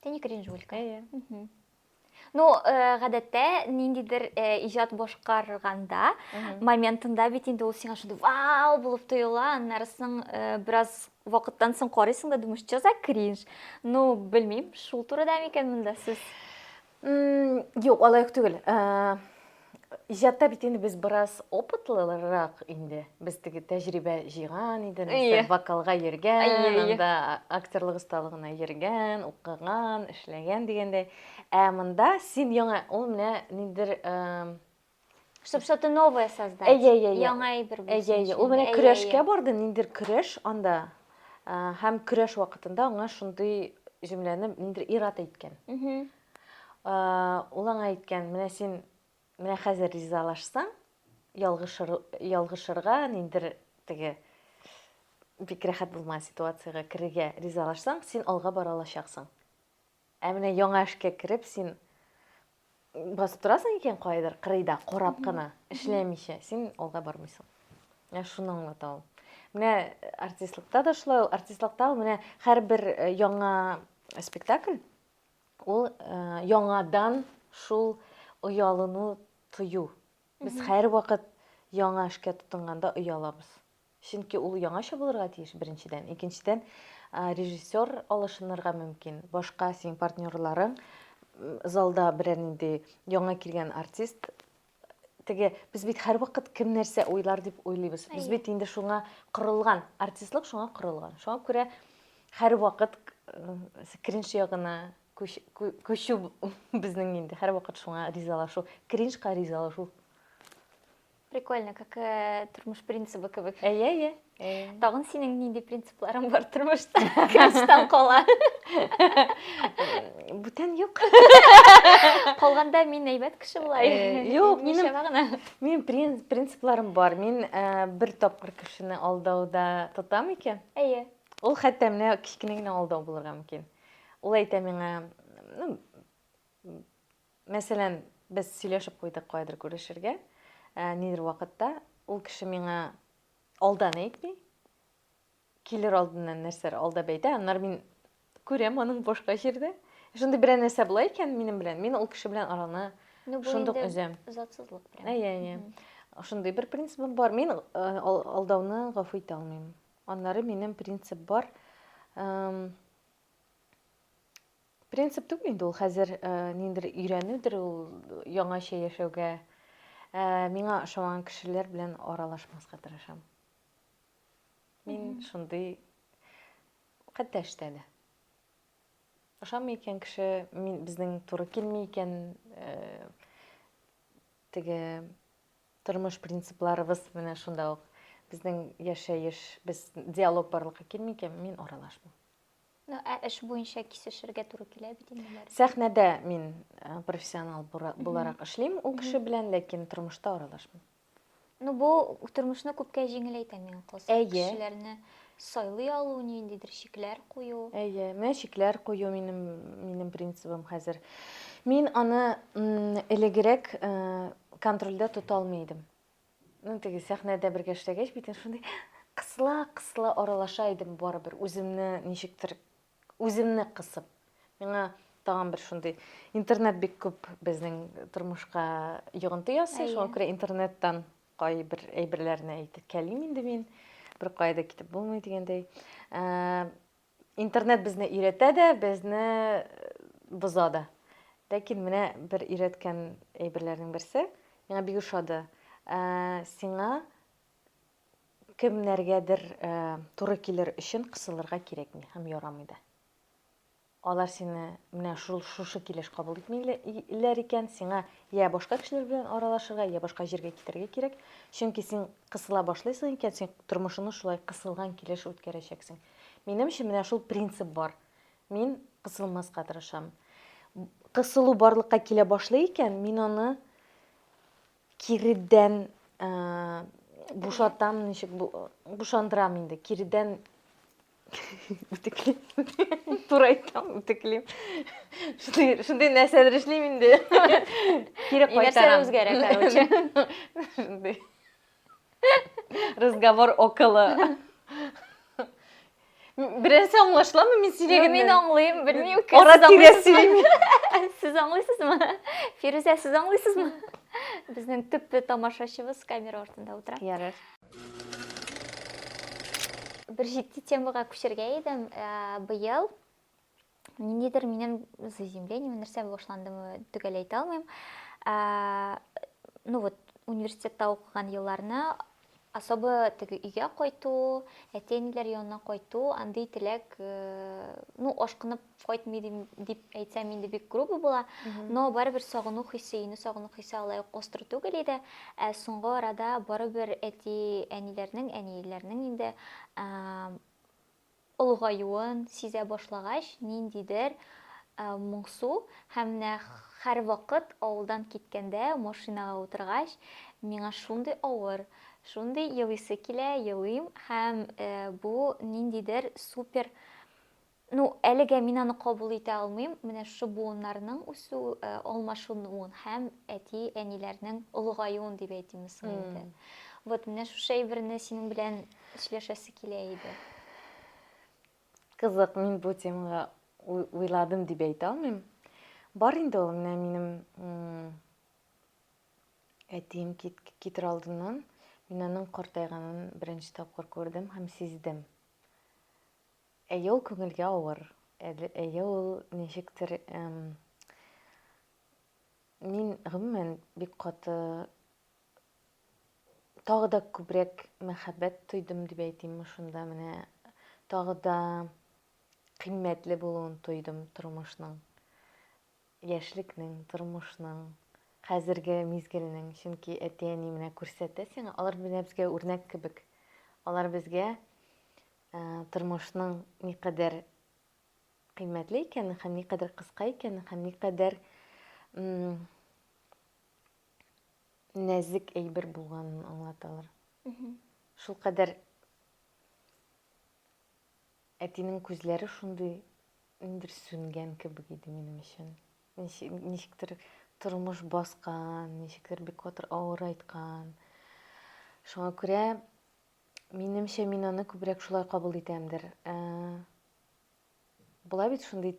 Speaker 2: Ты не
Speaker 1: кринжуешь, Кая? Ну, э, гадәттә ниндидер э, иҗат башкарганда моментында бит инде ул сиңа шундый вау булып тоела, аннары соң э, бераз вакыттан соң карыйсың да думаешь, что за кринж? Ну, белмим, шул турыда микән монда сүз?
Speaker 2: Юк, алай ук түгел. Иҗатта бит инде без бераз опытлырак инде. Без теге тәҗрибә җыйган иде, нәрсә вокалга йөргән, анда актерлык осталыгына йөргән, укыган, эшләгән дигәндәй. Ә монда син яңа, ул менә ниндидер
Speaker 1: Чтобы что-то новое создать. Әйе, әйе, әйе. Яңа әйбер булсын. Әйе, әйе. Ул менә көрәшкә
Speaker 2: барды, ниндер көрәш анда. Һәм көрәш вакытында аңа шундый җөмләне ниндер ират әйткән. Ул аңа әйткән, менә син менә хәзер ризалашсаң, ялгышыр, ялгышырга ниндер теге бик рәхәт булмаган ситуациягә керергә ризалашсаң, син алга бара алачаксың. Ә менә яңа эшкә кереп син басып торасың икән кайдыр кырыйда карап кына, эшләмичә, син алга бармыйсың. Ә шуны аңлата ул. Менә артистлыкта да шулай ул, артистлыкта ул менә һәрбер э, яңа спектакль ул э, яңадан шул оялыну тою. Без һәрвакыт яңа эшкә тотынганда оялабыз. Чөнки ул яңача булырга тиеш, беренчедән. Икенчедән, режиссер алышынырга мөмкин. Башка синең партнерларың залда берәр нинди яңа килгән артист теге без бит һәрвакыт кем нәрсә уйлар дип уйлыйбыз. Без бит инде шуңа корылган, артистлык шуңа корылган. Шуңа күрә һәрвакыт кринж ягына күчү безнең инде һәрвакыт шуңа ризалашу, кринжка ризалашу.
Speaker 1: Прикольно, как э, тормыш принцибы кебек. Әйе, әйе. Тагын
Speaker 2: синең нинди
Speaker 1: принципларың бар тормышта? Кемстан кала?
Speaker 2: Бүтән юк.
Speaker 1: Калганда мин әйбәт кеше була. Э, юк, минем
Speaker 2: гына. Минем принципларым бар. Мин э, бер тапкыр кешене алдауда тотам икән. Әйе. Ул хәтта менә кечкенә генә алдау булырга мөмкин. Ул әйтә миңа, ну, Мәсәлән, без сөйләшеп куйдык каядыр күрешергә, нидер вакытта. Ул кеше миңа алдан әйтми, килер алдыннан нәрсәләр алдап әйтә, аннары мин күрәм аның башка җирдә. Шундый берәр нәрсә була икән минем белән, мин ул кеше белән араны ну, шундук өзәм. Затсызлык прям. Әйе,
Speaker 1: әйе. Шундый бер
Speaker 2: принцибым бар. Мин алдауны гафу итә алмыйм. Аннары минем принцип бар. Принцип түгел инде ул хәзер э, ниндер өйрәнүдер ул яңача яшәүгә. Э, миңа ошамаган кешеләр белән аралашмаска тырышам. Мин шундый хәтта эштә дә. Ошамый икән кеше, мин безнең туры килми икән, э, теге тормыш принципларыбыз менә шунда ук. Безнең яшәеш, без диалог барлыкка килми икән, мин аралашмыйм. Ну, ә эш
Speaker 1: буенча кисешергә туры килә бит инде бары. Сәхнәдә мин э,
Speaker 2: профессионал бура- буларак эшлим ул кеше белән, ләкин тормышта аралашмыйм. Ну, бу
Speaker 1: тормышны күпкә җиңеләйтә миңа калса. Әйе. Кешеләрне сайлый алу, ниндидер шикләр кую. Әйе, менә шикләр
Speaker 2: кую минем минем принцибым хәзер. Мин аны м, элегрәк э, контрольдә тота алмый идем. Ну, теге сәхнәдә бергә эшләгәч, бит инде шундый кысыла-кысыла аралаша идем барыбер, үземне ничектер, үземне кысып. Миңа тагын бер шундый интернет бик күп безнең тормышка йогынты ясый, Әйе. шуңа күрә интернеттан кайбер әйберләрне әйтеп кәлим инде мин. Бер кая да китеп булмый дигәндәй. Ә, Интернет безне өйрәтә дә, безне боза да. Ләкин менә бер өйрәткән әйберләрнең берсе, миңа бик ошады. Сиңа кемнәргәдер туры килер өчен кысылырга кирәкми һәм ярамый да. Алар сине менә шул шушы килеш кабул итмиләр икән, сиңа я башка кешеләр белән аралашырга, я башка җиргә китәргә кирәк. Чөнки син кысыла башлыйсың икән, син тормышыңны шулай кысылган килеш үткәрәчәксең. Минемчә, менә шул принцип бар. Мин кысылмаска тырышам. Кысылу барлыкка килә башлый икән, мин аны киредән ә, бушатам, ничек бу, бушандырам инде. Киредән үтеклим. Туры әйтәм, үтеклим. Шундый, шундый нәрсәләр эшлим инде. Кире Нәрсә кайтарам. үзгәрә,
Speaker 1: короче. Шундый.
Speaker 2: Разговор около. Берәрсе аңлашламы мин сөйләгәннән? Мин аңлыйм, белмим.
Speaker 1: Ара тирә сөйлим.
Speaker 2: Сез
Speaker 1: аңлыйсызмы? Фирүзә, сез аңлыйсызмы? Безнең төп тамашачыбыз камера артында утыра. Ярар. Бер җитди темага күчергә идем. Э, быел ниндидер минем заземление нәрсә башландымы төгәл әйтә алмыйм ә, ну вот университетта укыган елларны особо теге өйгә кайту әти әниләр янына кайту андый теләк э, ну ашкынып кайтмый дим- дип әйтсәм инде бик грубо була но барыбер сагыну хисе өйне сагыну хисе алай ук остро түгел иде ә соңгы арада барыбер әти әниләрнең әниләрнең инде ә, олыгаюын сизә башлагач, ниндидер моңсу һәм менә һәрвакыт авылдан киткәндә машинага утыргач, миңа шундый авыр, шундый елыйсы килә, елыйм һәм бу ниндидер супер Ну, әлегә мин аны кабул итә алмыйм. Менә шушы буыннарның үсү, алмашынуын һәм әти-әниләрнең олыгаюын дип әйтимме соң инде. Вот менә шушы әйберне синең белән Эшләшәсе килә иде. Кызык,
Speaker 2: мин бу темага уйладым дип әйтә алмыйм. Бар инде ул менә минем әтием китер алдыннан мин аның картайганын беренче тапкыр күрдем һәм сиздем. Әйе, ул күңелгә авыр. Әйе, ул ничектер мин гомумән бик каты тагы да күбрәк мәхәббәт тойдым дип әйтимме шунда менә тагы да кыйммәтле булуын тойдым тормышның яшьлекнең тормышның хәзерге мизгелнең чөнки әти әни менә күрсәтә сиңа алар менә безгә үрнәк кебек алар безгә ә, тормышның никадәр кыйммәтле икәнен һәм никадәр кыска икәнен һәм никадәр нәзек әйбер булганын аңлаталар. Шул кадәр әтинең күзләре шундый ниндер сүнгән кебек иде минем өчен. Ничектер тормыш баскан, ничектер бик катыр авыр айткан. Шуңа күрә минемчә мин аны күбрәк шулай кабул итәмдер. Ә, була бит шундый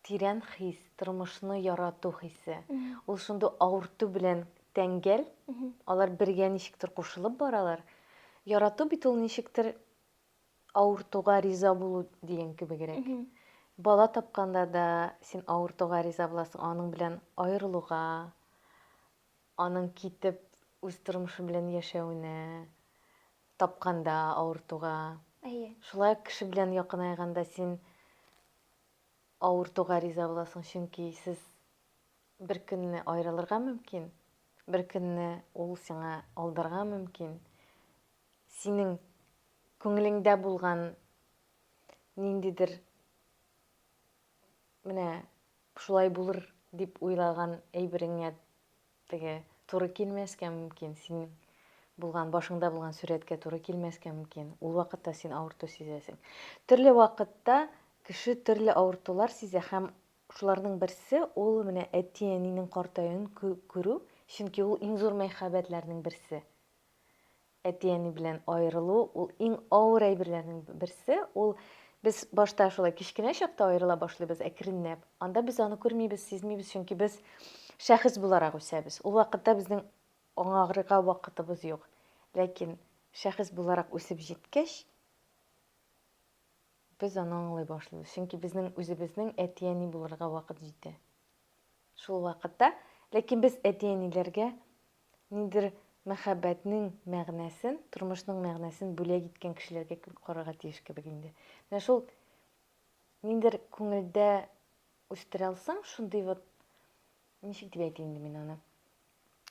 Speaker 2: Тирән хис, тормышны ярату хисе. Ул шундый авырту белән тәңгәл. Алар бергә ничектер кушылып баралар. Ярату бит ул ничектер авыртуга риза булу дигән кебегрәк. Бала тапканда да син авыртуга риза буласың, аның белән аерылуга, аның китеп үз тормышы белән яшәвенә, тапканда авыртуга. Әйе. Шулай ук кеше белән якынайганда син Авыртуга риза буласың, чөнки сез бер көнне аерылырга мөмкин, бер көнне ул сиңа алдарга мөмкин. Синең күңелеңдә булган ниндидер менә шулай булыр дип уйлаган әйбереңә Теге туры килмәскә мөмкин, синең булган, башыңда булган сурәткә туры килмәскә мөмкин. Ул вакытта син авырту сизәсең. Төрле вакытта кеше төрле авыртулар сизә һәм шуларның берсе ул менә әти-әнинең картаюын күрү, чөнки ул иң зур мәхәббәтләрнең берсе. Әти-әни белән аерылу ул иң авыр әйберләрнең берсе. Ул без башта шулай кечкенә чакта аерыла башлыйбыз әкренләп. Анда без аны күрмибез, сизмибез, чөнки без шәхес буларак үсәбез. Ул вакытта безнең аңагырга вакытыбыз юк. Ләкин шәхес буларак үсеп җиткәч, без аны аңлый башлыйбыз. Чөнки безнең үзебезнең әти-әни булырга вакыт җитә. Шул вакытта, ләкин без әти-әниләргә Ниндидер мәхәббәтнең мәгънәсен, тормышның мәгънәсен бүләк иткән кешеләргә кебек карарга тиеш кебек инде. Менә шул ниндидер күңелдә үстерә алсаң, шундый вот ничек дип әйтим инде мин аны.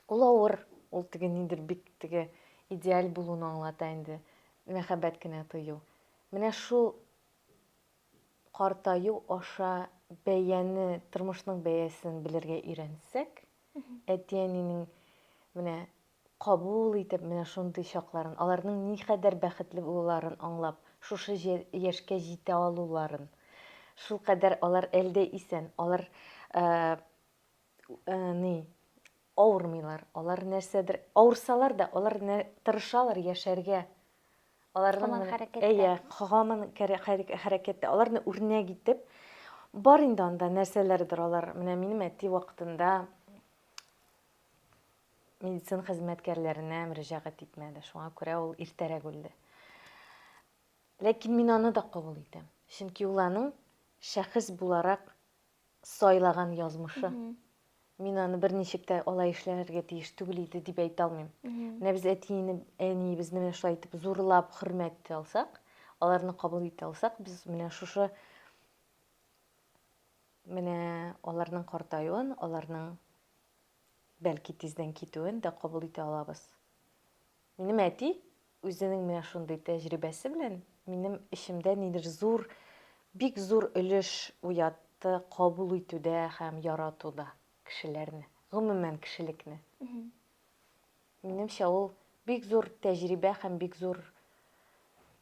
Speaker 2: Ул авыр, ул теге ниндидер бик теге идеаль булуны аңлата инде, мәхәббәт кенә тою. Менә шул Картаю аша бәяне, тормышның бәясен белергә өйрәнсәк, әти-әнинең менә кабул итеп, менә шундый чакларын, аларның никадәр бәхетле булуларын аңлап, шушы яшькә җитә алуларын, шулкадәр алар әлдә исән, алар Э, ни, авырмыйлар. Алар нәрсәдер, авырсалар да, алар тырышалар яшәргә. Аларның Хаман хәрәкәттә. Әйе, хаман хәрәкәттә. Аларны үрнәк итеп, бар инде анда нәрсәләрдер алар. Менә минем әти вакытында медицина хезмәткәрләренә мөрәҗәгать итмәде. Шуңа күрә ул иртәрәк үлде. Ләкин мин аны да кабул итәм. Чөнки ул аның шәхес буларак сайлаган язмышы. Мин аны берничек тә алай эшләргә тиеш түгел иде дип әйтә алмыйм. Менә без әтине, әниебезне менә шулай итеп зурлап хөрмәт итә алсак, аларны кабул итә алсак, без менә шушы менә аларның картаюын, аларның бәлки тиздән китүен дә кабул итә алабыз. Минем әти үзенең менә шундый тәҗрибәсе белән минем эчемдә нидер зур, бик зур өлеш уятты кабул итүдә һәм яратуда кешеләрне, гомумән кешелекне. Минемчә ул бик зур тәҗрибә һәм бик зур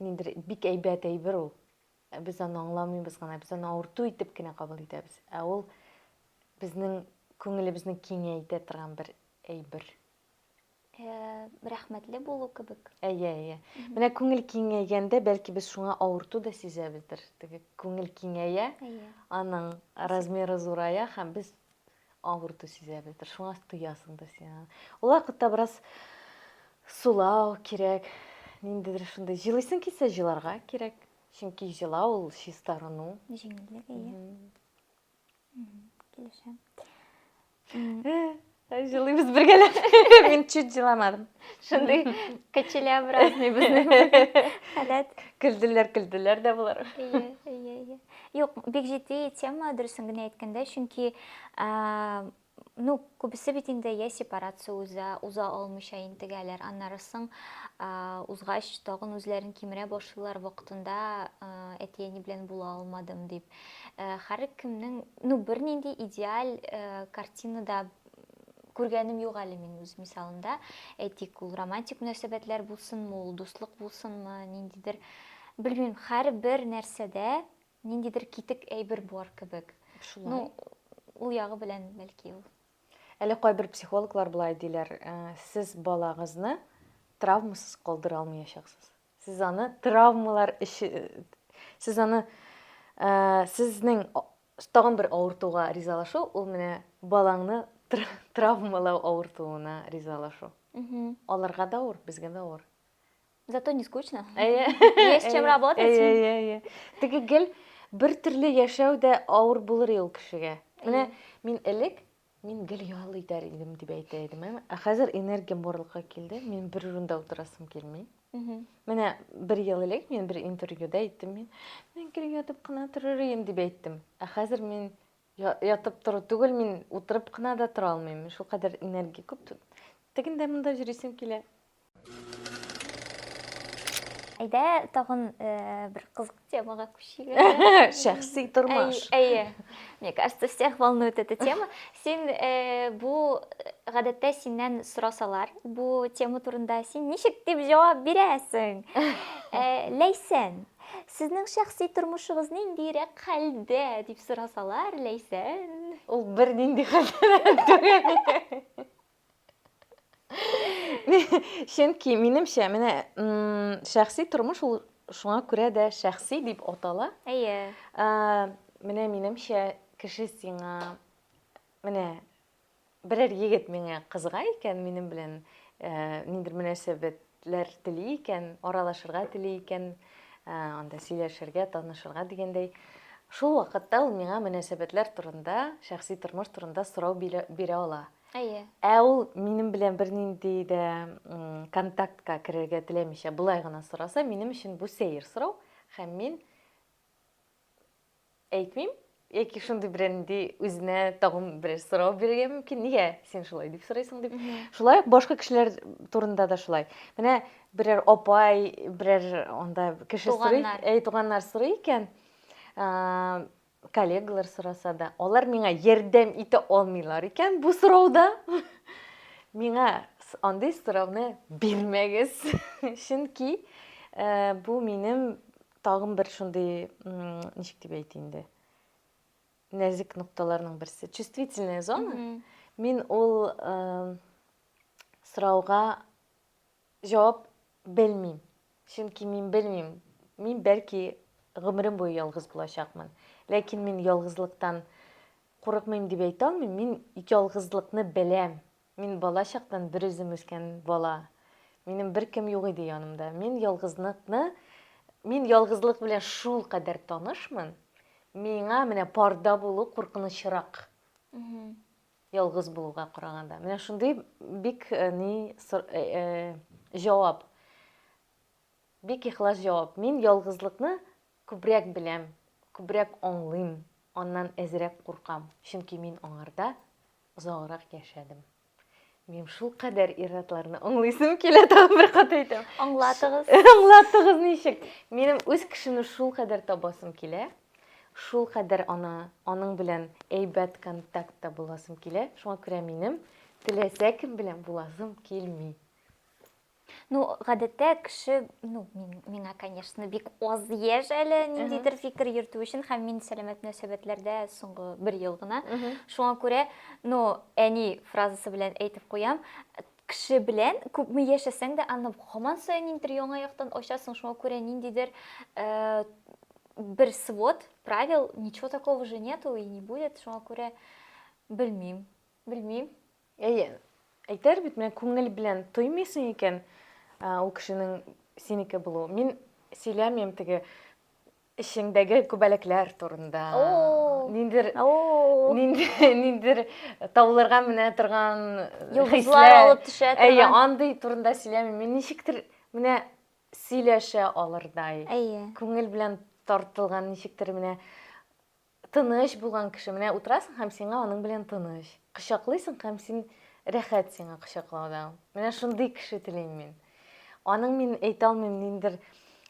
Speaker 2: нидер бик әйбәт әйбер ул. Без аны аңламыйбыз гына, без аны авырту итеп кенә кабул итәбез. Ә ул безнең күңелебезне киңәйтә торган бер әйбер.
Speaker 1: рәхмәтле булу кебек. Әйе, әйе.
Speaker 2: Менә күңел киңәйгәндә, бәлки без шуңа авырту да сизәбездер. Теге күңел киңәя, аның размеры зурая һәм без авырту сизәбездер. Шуңа тоясың да син аны. Ул вакытта бераз сулау кирәк. Ниндидер шундый җылыйсың килсә, җыларга кирәк. Чөнки җылау ул чистарыну. Җиңеллек, әйе.
Speaker 1: Килешәм.
Speaker 2: Җылыйбыз бергәләп. Мин чуть җыламадым. Шундый
Speaker 1: кочелеобразный безнең халәт. Көлделәр,
Speaker 2: көлделәр дә булар. Ие, ие, ие.
Speaker 1: Юк, бик җитди тема, дөресен генә әйткәндә, чөнки Ну, күбесе бит инде я сепарация уза, уза алмыйча интегәләр, аннары соң узгач тагын үзләрен кимерә башлыйлар, вакытында әти-әни белән була алмадым дип. Һәр кемнең, ну, бернинди идеаль картинада күргәнем юк әле мин үз мисалымда. Әйтик, ул романтик мөнәсәбәтләр булсынмы, ул дуслык булсынмы, ниндидер, белмим, һәрбер нәрсәдә Ниндидер китек әйбер бар кебек. Шулай. Ну, ул ягы белән бәлки ул. Әле кайбер
Speaker 2: психологлар болай диләр, э, сез балагызны травмасыз калдыра алмаячаксыз. Сез аны травмалар эше сез аны э, сезнең тагын бер авыртуга ризалашу, ул менә балаңны травмалау авыртуына ризалашу. Аларга да авыр, безгә дә авыр. Зато не
Speaker 1: скучно. Әйе. Есть чем работать. Әйе, әйе, әйе. Теге гел
Speaker 2: бер төрле яшәү дә авыр булыр ул кешегә. Менә мин элек мин гел ял итәр идем дип әйтә идем ә ә хәзер энергиям барлыкка килде мин бер урында утырасым килми менә бер ел элек мин бер интервьюда әйттем мин мин гел ятып кына торыр идем дип әйттем ә хәзер мин ятып тору түгел мин утырып кына да тора алмыйм шулкадәр энергия күп тегендә монда йөрисем килә
Speaker 1: Әйдә, тагын бер кызык темага күчик. Шәхси
Speaker 2: тормыш. Әйе. Мне
Speaker 1: кажется, всех волнует эта тема. Син бу гадәттә синнән сорасалар, бу тема турында син ничек дип җавап бирәсең? Ләйсән, сезнең шәхси тормышыгыз ниндирәк хәлдә дип сорасалар,
Speaker 2: Ләйсән?
Speaker 1: Ул
Speaker 2: бернинди хәлдә түгел. Чөнки минемчә, менә шәхси тормыш ул шуңа күрә дә шәхси дип атала. Әйе.
Speaker 1: Менә
Speaker 2: минемчә, кеше сиңа менә берәр егет миңа кызга икән, минем белән ниндер мөнәсәбәтләр тели икән, аралашырга тели икән, анда сөйләшергә, танышырга дигәндәй, шул вакытта ул миңа мөнәсәбәтләр турында, шәхси тормыш турында сорау бирә ала. Әйе. Ә ул
Speaker 1: минем
Speaker 2: белән бернинди дә контактка керергә теләмичә, болай гына сораса, минем өчен бу сәер сорау, һәм мин әйтмим, яки шундый берәнди үзенә тагын берәр сорау бирергә мөмкин. Нигә син шулай дип сорыйсың дип. Шулай ук башка кешеләр турында да шулай. Менә берәр апай, берәр анда кеше сорый, әй туганнар сорый икән, Коллегалар сораса да, алар миңа ярдәм итә алмыйлар икән бу сорауда. Миңа андый сорауны бирмәгез. Чөнки э, бу минем тагын бер шундый, ничек дип әйтә инде, нәзек нокталарның берсе. Чувствительная зона. Мин ул э, сорауга Җавап, белмим. Чөнки мин белмим, мин бәлки гомерем буе ялгыз булачакмын. Ләкин мин ялгызлыктан курыкмыйм дип әйтә алмыйм, мин ялгызлыкны беләм. Мин бала чактан берүзем үскән бала. Минем беркем юк иде янымда. Мин ялгызлыкны, мин ялгызлык белән шул кадәр танышмын, миңа менә парда булу куркынычрак. Ялгыз булуга караганда. Менә шундый бик э, ни сор- э, э, җавап. Бик ихлас җавап. Мин ялгызлыкны күбрәк беләм, күбрәк аңлыйм, аннан әзрәк куркам, чөнки мин аңарда озаграк яшәдем. Мин шул кадәр ир-атларны аңлыйсым килә, тагын бер кат әйтәм. Аңлатыгыз.
Speaker 1: Аңлатыгыз
Speaker 2: ничек? Минем үз кешемне шул кадәр табасым килә. Шулкадәр ана, аның белән әйбәт контактта буласым килә, шуңа күрә минем теләсә кем белән буласым килми. Ну, гадәттә
Speaker 1: кеше, ну, мин, миңа, конечно, бик аз яшь әле ниндидер фикер йөртү өчен, һәм мин сәламәт мөнәсәбәтләрдә соңгы бер ел гына. Шуңа күрә, ну, әни фразасы белән әйтеп куям, Кеше белән күпме яшәсәң дә, аны һаман саен ниндидер яңа яктан ачасың, шуңа күрә ниндидер э, бер свод правил, ничего такого же нету и не будет, шуңа күрә белмим, белмим.
Speaker 2: Әйе, әйтер бит, менә күңел белән тоймыйсың икән, ул кешенең синеке булу. Мин сөйләмим теге Эчеңдәге күбәләкләр турында. Ниндидер ниндидер табылырга менә торган хисләр алып
Speaker 1: төшә торган. Әйе, андый турында
Speaker 2: сөйләми. Мин ничектер менә сөйләшә алырдай. Әйе. Күңел белән тартылган ничектер менә Тыныч булган кеше, менә утырасың һәм сиңа аның белән тыныч. Кочаклыйсың һәм син рәхәт сиңа кочаклауда. Менә шундый кеше телим мин. Аның мин әйтә алмыйм, ниндер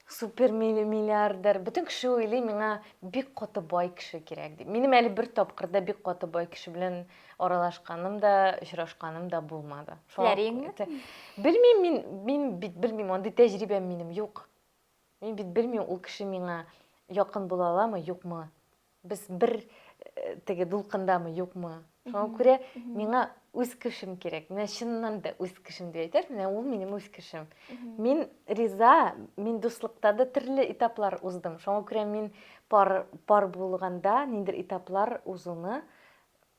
Speaker 2: супер миллиардер. Бөтен кеше уйлый, миңа бик каты бай кеше кирәк дип. Минем әле бер тапкырда бик каты бай кеше белән аралашканым да, очрашканым да булмады. Теләриңме? Белмим мин, мин бит белмим, андый тәҗрибәм минем юк. Мин бит белмим, ул кеше миңа якын була аламы, юкмы. Без бер теге дулкындамы, юкмы. Шуңа күрә миңа үз кешем кирәк. Менә чыннан да үз кешем дип әйтәр, менә ул минем үз кешем. Мин риза, мин дуслыкта да төрле этаплар уздым. Шуңа күрә мин пар пар булганда ниндер этаплар узуны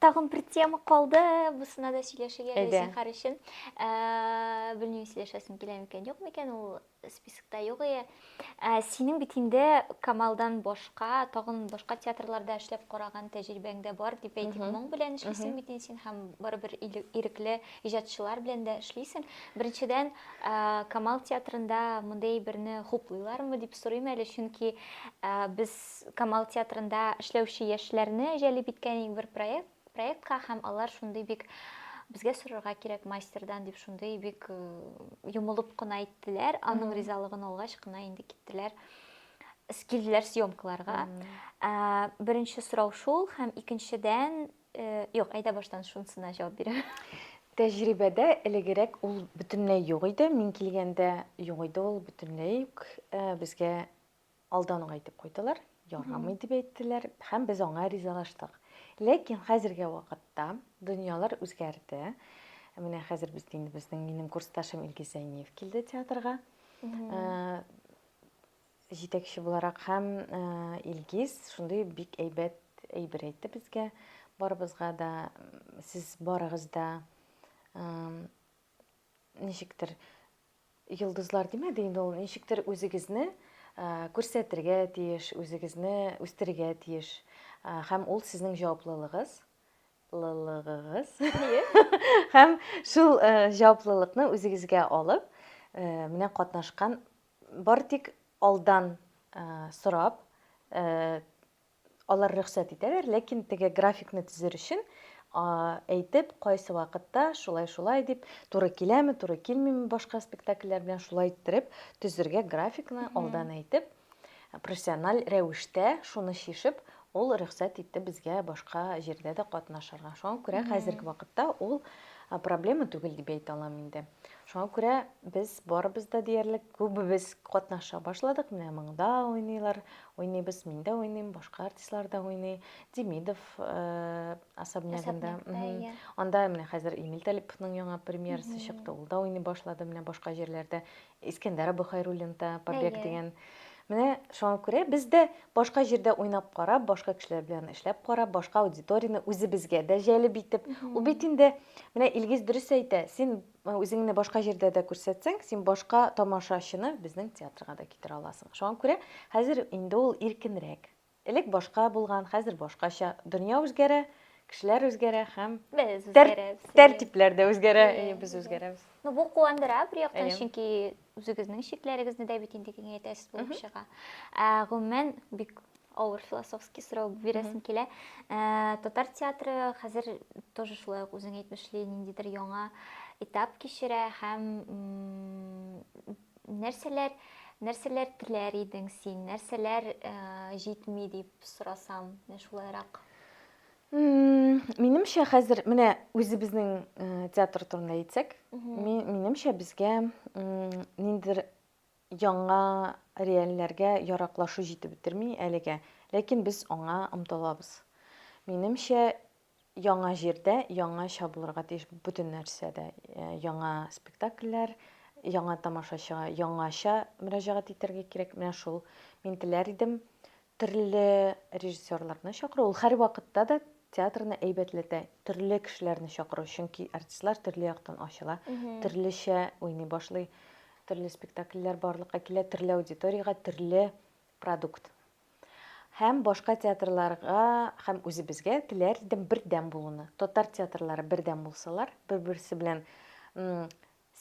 Speaker 1: Тагын бер тема калды, бусына да сөйләшергә Әйдә. дә зинхар өчен. Ә, белмим, сөйләшәсең килә микән, юк микән, ул спискта юк ие. Ә, синең бит инде Камалдан башка, тагын башка театрларда эшләп караган тәҗрибәң дә бар, дип әйтик. Мгм. Моң белән эшлисең Мгм. бит инде син һәм барыбер иле- ирекле иҗатчылар белән дә эшлисең. Беренчедән, ә, Камал театрында мондый әйберне хуплыйлармы дип сорыйм әле, чөнки ә, без Камал театрында эшләүче яшьләрне җәлеп иткән иң бер проект, проектка һәм алар шундый бик безгә сорарга кирәк мастердан дип шундый бик э, йомылып кына әйттеләр аның ризалыгын алгач кына инде киттеләр килделәр съемкаларга ә, беренче сорау шул һәм икенчедән э, юк әйдә баштан шунысына җавап бирәм тәҗрибәдә
Speaker 2: элегерәк ул бөтенләй юк иде мин килгәндә юк иде ул бөтенләй үк э, безгә Алдан ук әйтеп куйдылар, ярамый дип әйттеләр һәм без аңа ризалаштык. Ләкин хәзерге вакытта дөньялар үзгәрде. Менә хәзер без инде безнең минем курсташым Илгиз Зәйниев килде театрга. Э, җитәкче буларак һәм э, Илгиз шундый бик әйбәт әйбер әйтте безгә. Барыбызга да сез барыгыз да э, ничектер Йолдызлар димәде инде ул, ничектер үзегезне күрсәтергә тиеш, үзегезне үстерергә тиеш. Һәм ул сезнең җаваплылыгыз, лылыгыгыз. Һәм шул җаваплылыкны үзегезгә алып, менә катнашкан бар тик алдан сорап, Алар рөхсәт итәләр, ләкин теге графикны төзер өчен әйтеп, кайсы вакытта шулай-шулай дип, туры киләме, туры килмиме башка спектакльләр белән шулай иттереп төзергә графикны алдан әйтеп, профессиональ рәвештә шуны чишеп, ул рөхсәт итте безгә башка җирдә дә катнашырга. Шуңа күрә хәзерге вакытта ул проблема түгел дип әйтә алам инде. Шуңа күрә без барыбыз да диярлек күбебез катнаша башладык. Менә монда уйныйлар, Уйныйбыз, мин дә уйныйм, башка артистлар да уйный. Демидов особнягында. Анда менә хәзер Эмиль Талиповның яңа премьерасы чыкты. Ул да уйный башлады менә башка җирләрдә. Искәндәр Абыхайруллин да Побег дигән. Менә шуңа күрә без дә башка җирдә уйнап карап, башка кешеләр белән эшләп карап, башка аудиторияне үзебезгә дә җәлеп итеп. Ул бит инде менә Илгиз дөрес әйтә, син Үзеңне башка җирдә дә күрсәтсәң, син башка тамашачыны безнең театрга да китерә аласың. Шуңа күрә хәзер инде ул иркенрәк. Элек башка булган, хәзер башкача. Дөнья үзгәрә, кешеләр үзгәрә һәм без үзгәрәбез.
Speaker 1: Тәртипләр дә үзгәрә,
Speaker 2: без үзгәрәбез. Ну, бу куандыра
Speaker 1: бер яктан, чөнки Үзегезнең чикләрегезне дә бит инде киңәйтәсез булып чыга. Ә, гомумән, бик авыр философский сорау бирәсем килә. Ә, татар театры хәзер тоже шулай ук үзең әйтмешли ниндидер яңа этап кичерә һәм нәрсәләр нәрсәләр теләр идең син, нәрсәләр ә, җитми дип сорасам, менә шулайрак.
Speaker 2: Минемчә, хәзер менә үзебезнең театр турында әйтсәк, минемчә безгә ниндидер яңа реальләргә яраклашу җитеп бетерми әлегә. Ләкин без аңа омтылабыз. Минемчә, яңа җирдә яңача булырга тиеш бөтен нәрсәдә. Яңа спектакльләр, яңа тамашачыга яңача мөрәҗәгать итәргә кирәк. Менә шул. Мин теләр идем, Төрле режиссерларны чакыру, ул һәрвакытта да театрны әйбәтләтә. Төрле кешеләрне чакыру, чөнки артистлар төрле яктан ачыла, төрлечә уйный башлый, төрле спектакльләр барлыкка килә, төрле аудиториягә, төрле продукт. Һәм башка театрларга, һәм үзебезгә теләр идем бердәм булуны. Татар театрлары бердәм булсалар, бер-берсе белән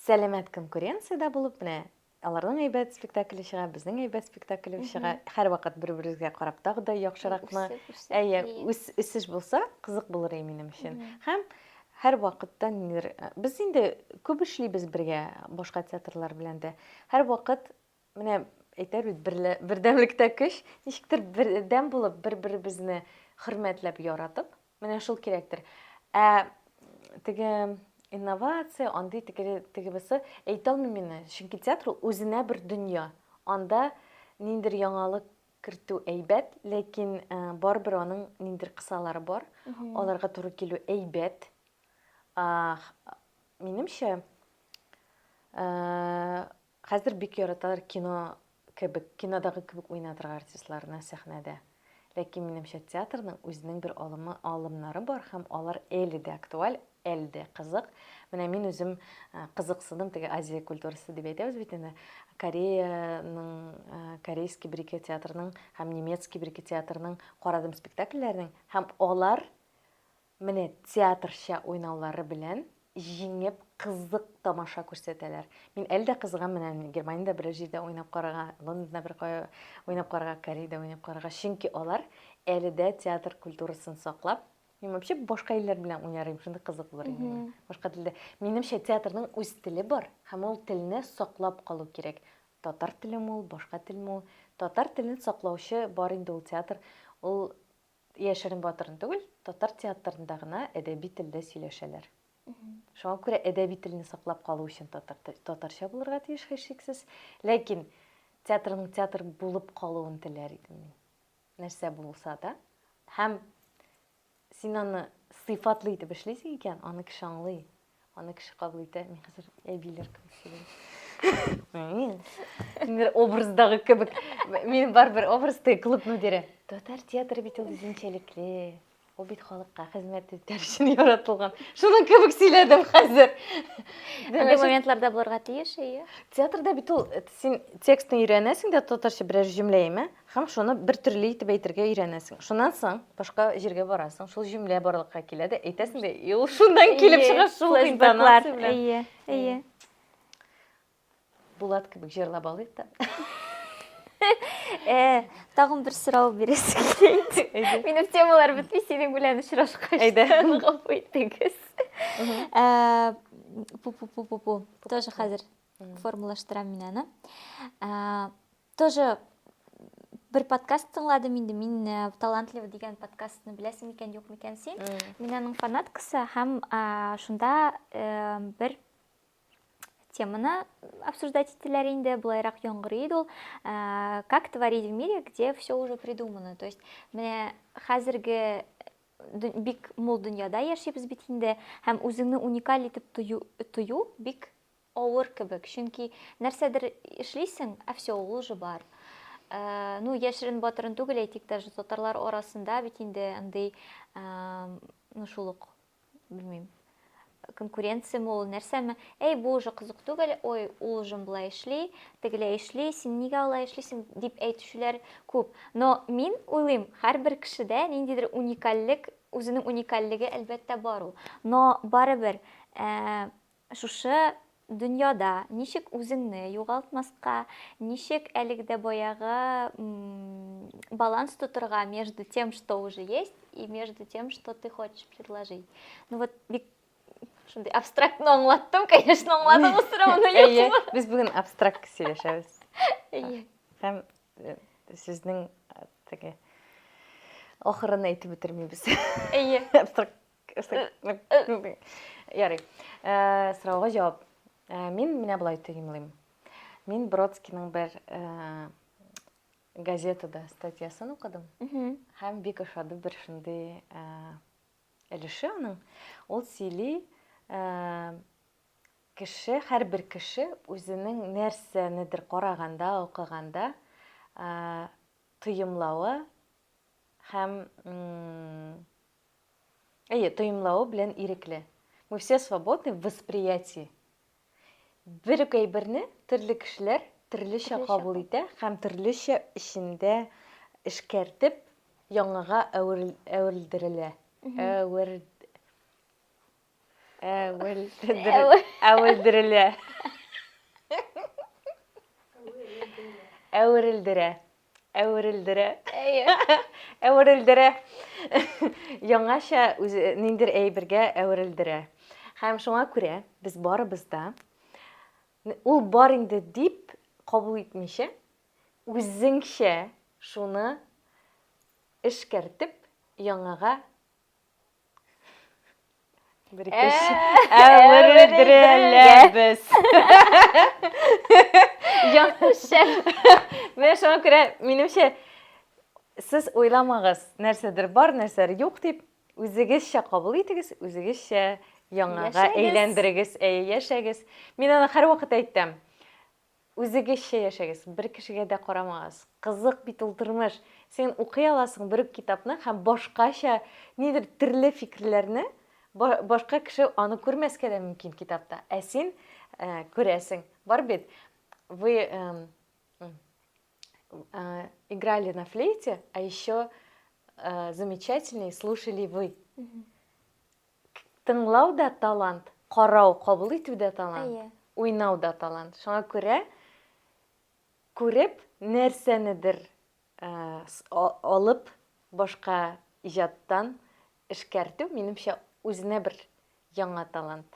Speaker 2: сәламәт конкуренциядә булып, менә Аларның әйбәт спектакле чыга, безнең әйбәт спектакле чыга. Һәрвакыт бер-беребезгә карап тагы да яхшыракны. Әйе, үсеш булса, кызык булыр иде минем өчен. Һәм һәрвакытта ниндидер без инде күп эшлибез бергә башка театрлар белән дә. Һәрвакыт менә әйтәр бит бердәмлектә көч, ничектер бердәм булып, бер-беребезне хөрмәтләп, яратып, Менә шул кирәктер. Ә теге инновация, андый теге теге бусы әйтә алмыйм инде, чөнки театр ул үзенә бер дөнья. Анда ниндер яңалык кертү әйбәт, ләкин э, барыбер аның ниндер кысалары бар. Аларга туры килү әйбәт. А, х- минемчә, э, Хәзер бик яраталар кино кебек, кинодагы кебек уйнатырга артистларны сәхнәдә. Ләкин минемчә театрның үзенең бер алымы, алымнары бар һәм алар әле дә актуаль, әле дә кызык. Менә мин үзем кызыксындым, теге Азия культурасы дип әйтәбез бит инде. Кореяның, корейский бер-ике театрының һәм немецкий бер-ике театрының карадым спектакльләрен һәм алар Менә театрча уйнаулары белән җиңеп кызык тамаша күрсәтәләр. Мин әле дә кызыгам менә Германиядә берәр җирдә уйнап карарга, Лондонда беркая уйнап карарга, Кореядә уйнап карарга, чөнки алар әле дә театр культурасын саклап, мин вообще башка илләр белән уйнар идем, шундый кызык булыр иде миңа. Башка телдә. Минемчә театрның үз теле бар һәм ул телне саклап калу кирәк. Татар телеме ул, башка телме ул, татар телен саклаучы бар инде ул театр, ул Яшерен батырын түгел, татар театрында гына әдәби телдә сөйләшәләр. Шуңа күрә әдәби телне саклап калу өчен татар тел, татарча булырга тиеш һичшиксез. Ләкин театрның театр булып калуын теләр идем мин. Нәрсә булса да. Һәм син аны сыйфатлы итеп эшлисең икән, аны кеше аңлый. Аны кеше кабул итә, мин хәзер әбиләр кебек сөйләйм. Мин образдагы кебек. Мин барыбер образда клуб мөдире. Татар театры бит ул үзенчәлекле. Ул бит халыкка хезмәт итәр өчен яратылган. Шуның кебек сөйләдем хәзер. Андый
Speaker 1: моментларда булырга тиеш, әйе. Театрда бит
Speaker 2: ул син текстны өйрәнәсең дә татарча берәр җөмлә яме. Һәм шуны бер төрле итеп әйтергә өйрәнәсең. Шуннан соң башка җиргә барасың, шул җөмлә барлыкка килә дә, әйтәсең дә, и ул шуннан килеп чыга, шул интонация белән. Әйе, әйе. Булат кебек җырлап алыйк та. Э,
Speaker 1: тагын бер сорау бирәсе килә. Минем темалар бетми, синең белән очрашкач. Әйдә, гафу итегез. Э, пу-пу-пу-пу-пу. Тоже хәзер формалаштырам мин аны. Э, Тоже бер подкаст тыңладым инде мин э, талантлива дигән подкастны беләсең микән юк микән син мин аның фанаткасы һәм шунда э, бер теманы обсуждать ителәр инде былайрак яңгырый иде ул э, как творить в мире где все уже придумано то есть менә хәзерге бик мул дөньяда яшибез бит инде һәм үзеңне уникаль итеп тою бик Авыр кебек, чөнки нәрсәдер эшлисең, ә все, ул уже бар. Ну, яшерен батырын түгел, әйтик, даже татарлар арасында бит инде андый, ну, шул ук, белмим, конкуренция мол, нәрсәме, әй, бу уже кызык түгел, ой, ул уже болай эшли, тегеләй эшли, син нигә алай эшлисең, дип әйтүчеләр күп. Но мин уйлыйм, һәрбер кешедә ниндидер уникальлек, үзенең уникальлеге, әлбәттә, бар ул. Но барыбер, Шушы дөньяда ничек үзеңне югалтмаска, ничек әлеге дә баягы баланс тотырга между тем, что уже есть, и между тем, что ты хочешь предложить. Ну вот бик шундый абстрактно аңлаттым, конечно, аңладыңыз сорауны юкмы? Без бүген абстракт
Speaker 2: сөйләшәбез. Әйе. Һәм э, сезнең э, теге ахырын әйтеп бетермибез. Әйе. Абстракт Ярый. Э, сорауга җавап. Э, мин менә болай төгемлим. Мин Бродскийның бер э, газетада статьясын укыдым. Һәм бик ошады бер шундый өлеше аның. Ул сөйли, кеше, һәрбер кеше үзенең нәрсәнедер караганда, укыганда тоемлавы һәм Әйе, тоемлавы белән ирекле. Мы все свободны в восприятии. Бер үк әйберне төрле кешеләр төрлечә кабул итә һәм төрлечә эчендә эшкәртеп яңага әверелдерелә. Әвер... Әвел әвелдерелә. Әверелдерә. Әверелдерә. Әверелдерә. Яңача үзе ниндер әйбергә әверелдерә. Һәм шуңа күрә без барыбыз да ул бар инде дип кабул итмичә, үзеңчә шуны эшкәртеп яңага Бер Ә, икенче әверелдерәләбез. Яңшәл. Менә шуңа күрә, минемчә, сез уйламагыз, нәрсәдер бар, нәрсәдер юк дип, үзегезчә кабул итегез, үзегезчә яңага Яшәгез. әйләндерегез, әйе, яшәгез. Мин аны һәрвакыт әйтәм. Үзегезчә яшәгез, бер кешегә дә карамагыз. Кызык бит ул тормыш. Син укый аласың бер үк китапны һәм башкача нидер төрле фикерләрне, башка кеше аны күрмәскә дә мөмкин китапта, ә син күрәсең. Бар бит, вы играли на флейте, а еще замечательней слушали вы. Тыңлау да талант, карау, кабул итү дә талант, уйнау да талант. Шуңа күрә күреп нәрсәнедер алып башка иҗаттан эшкәртү, минемчә, үзенә бер яңа талант.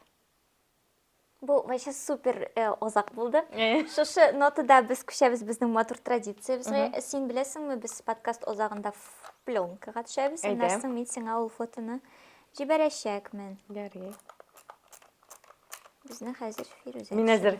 Speaker 1: Бу вообще супер э, озак булды. Э. Шушы нотада без күчәбез безнең матур традициябезгә. Син беләсеңме, без подкаст озагында ф- пленкага төшәбез. Әйдә. Аннан соң мин сиңа ул фотоны җибәрәчәкмен. Ярый. Безне хәзер Фирүзә. Мин әзер.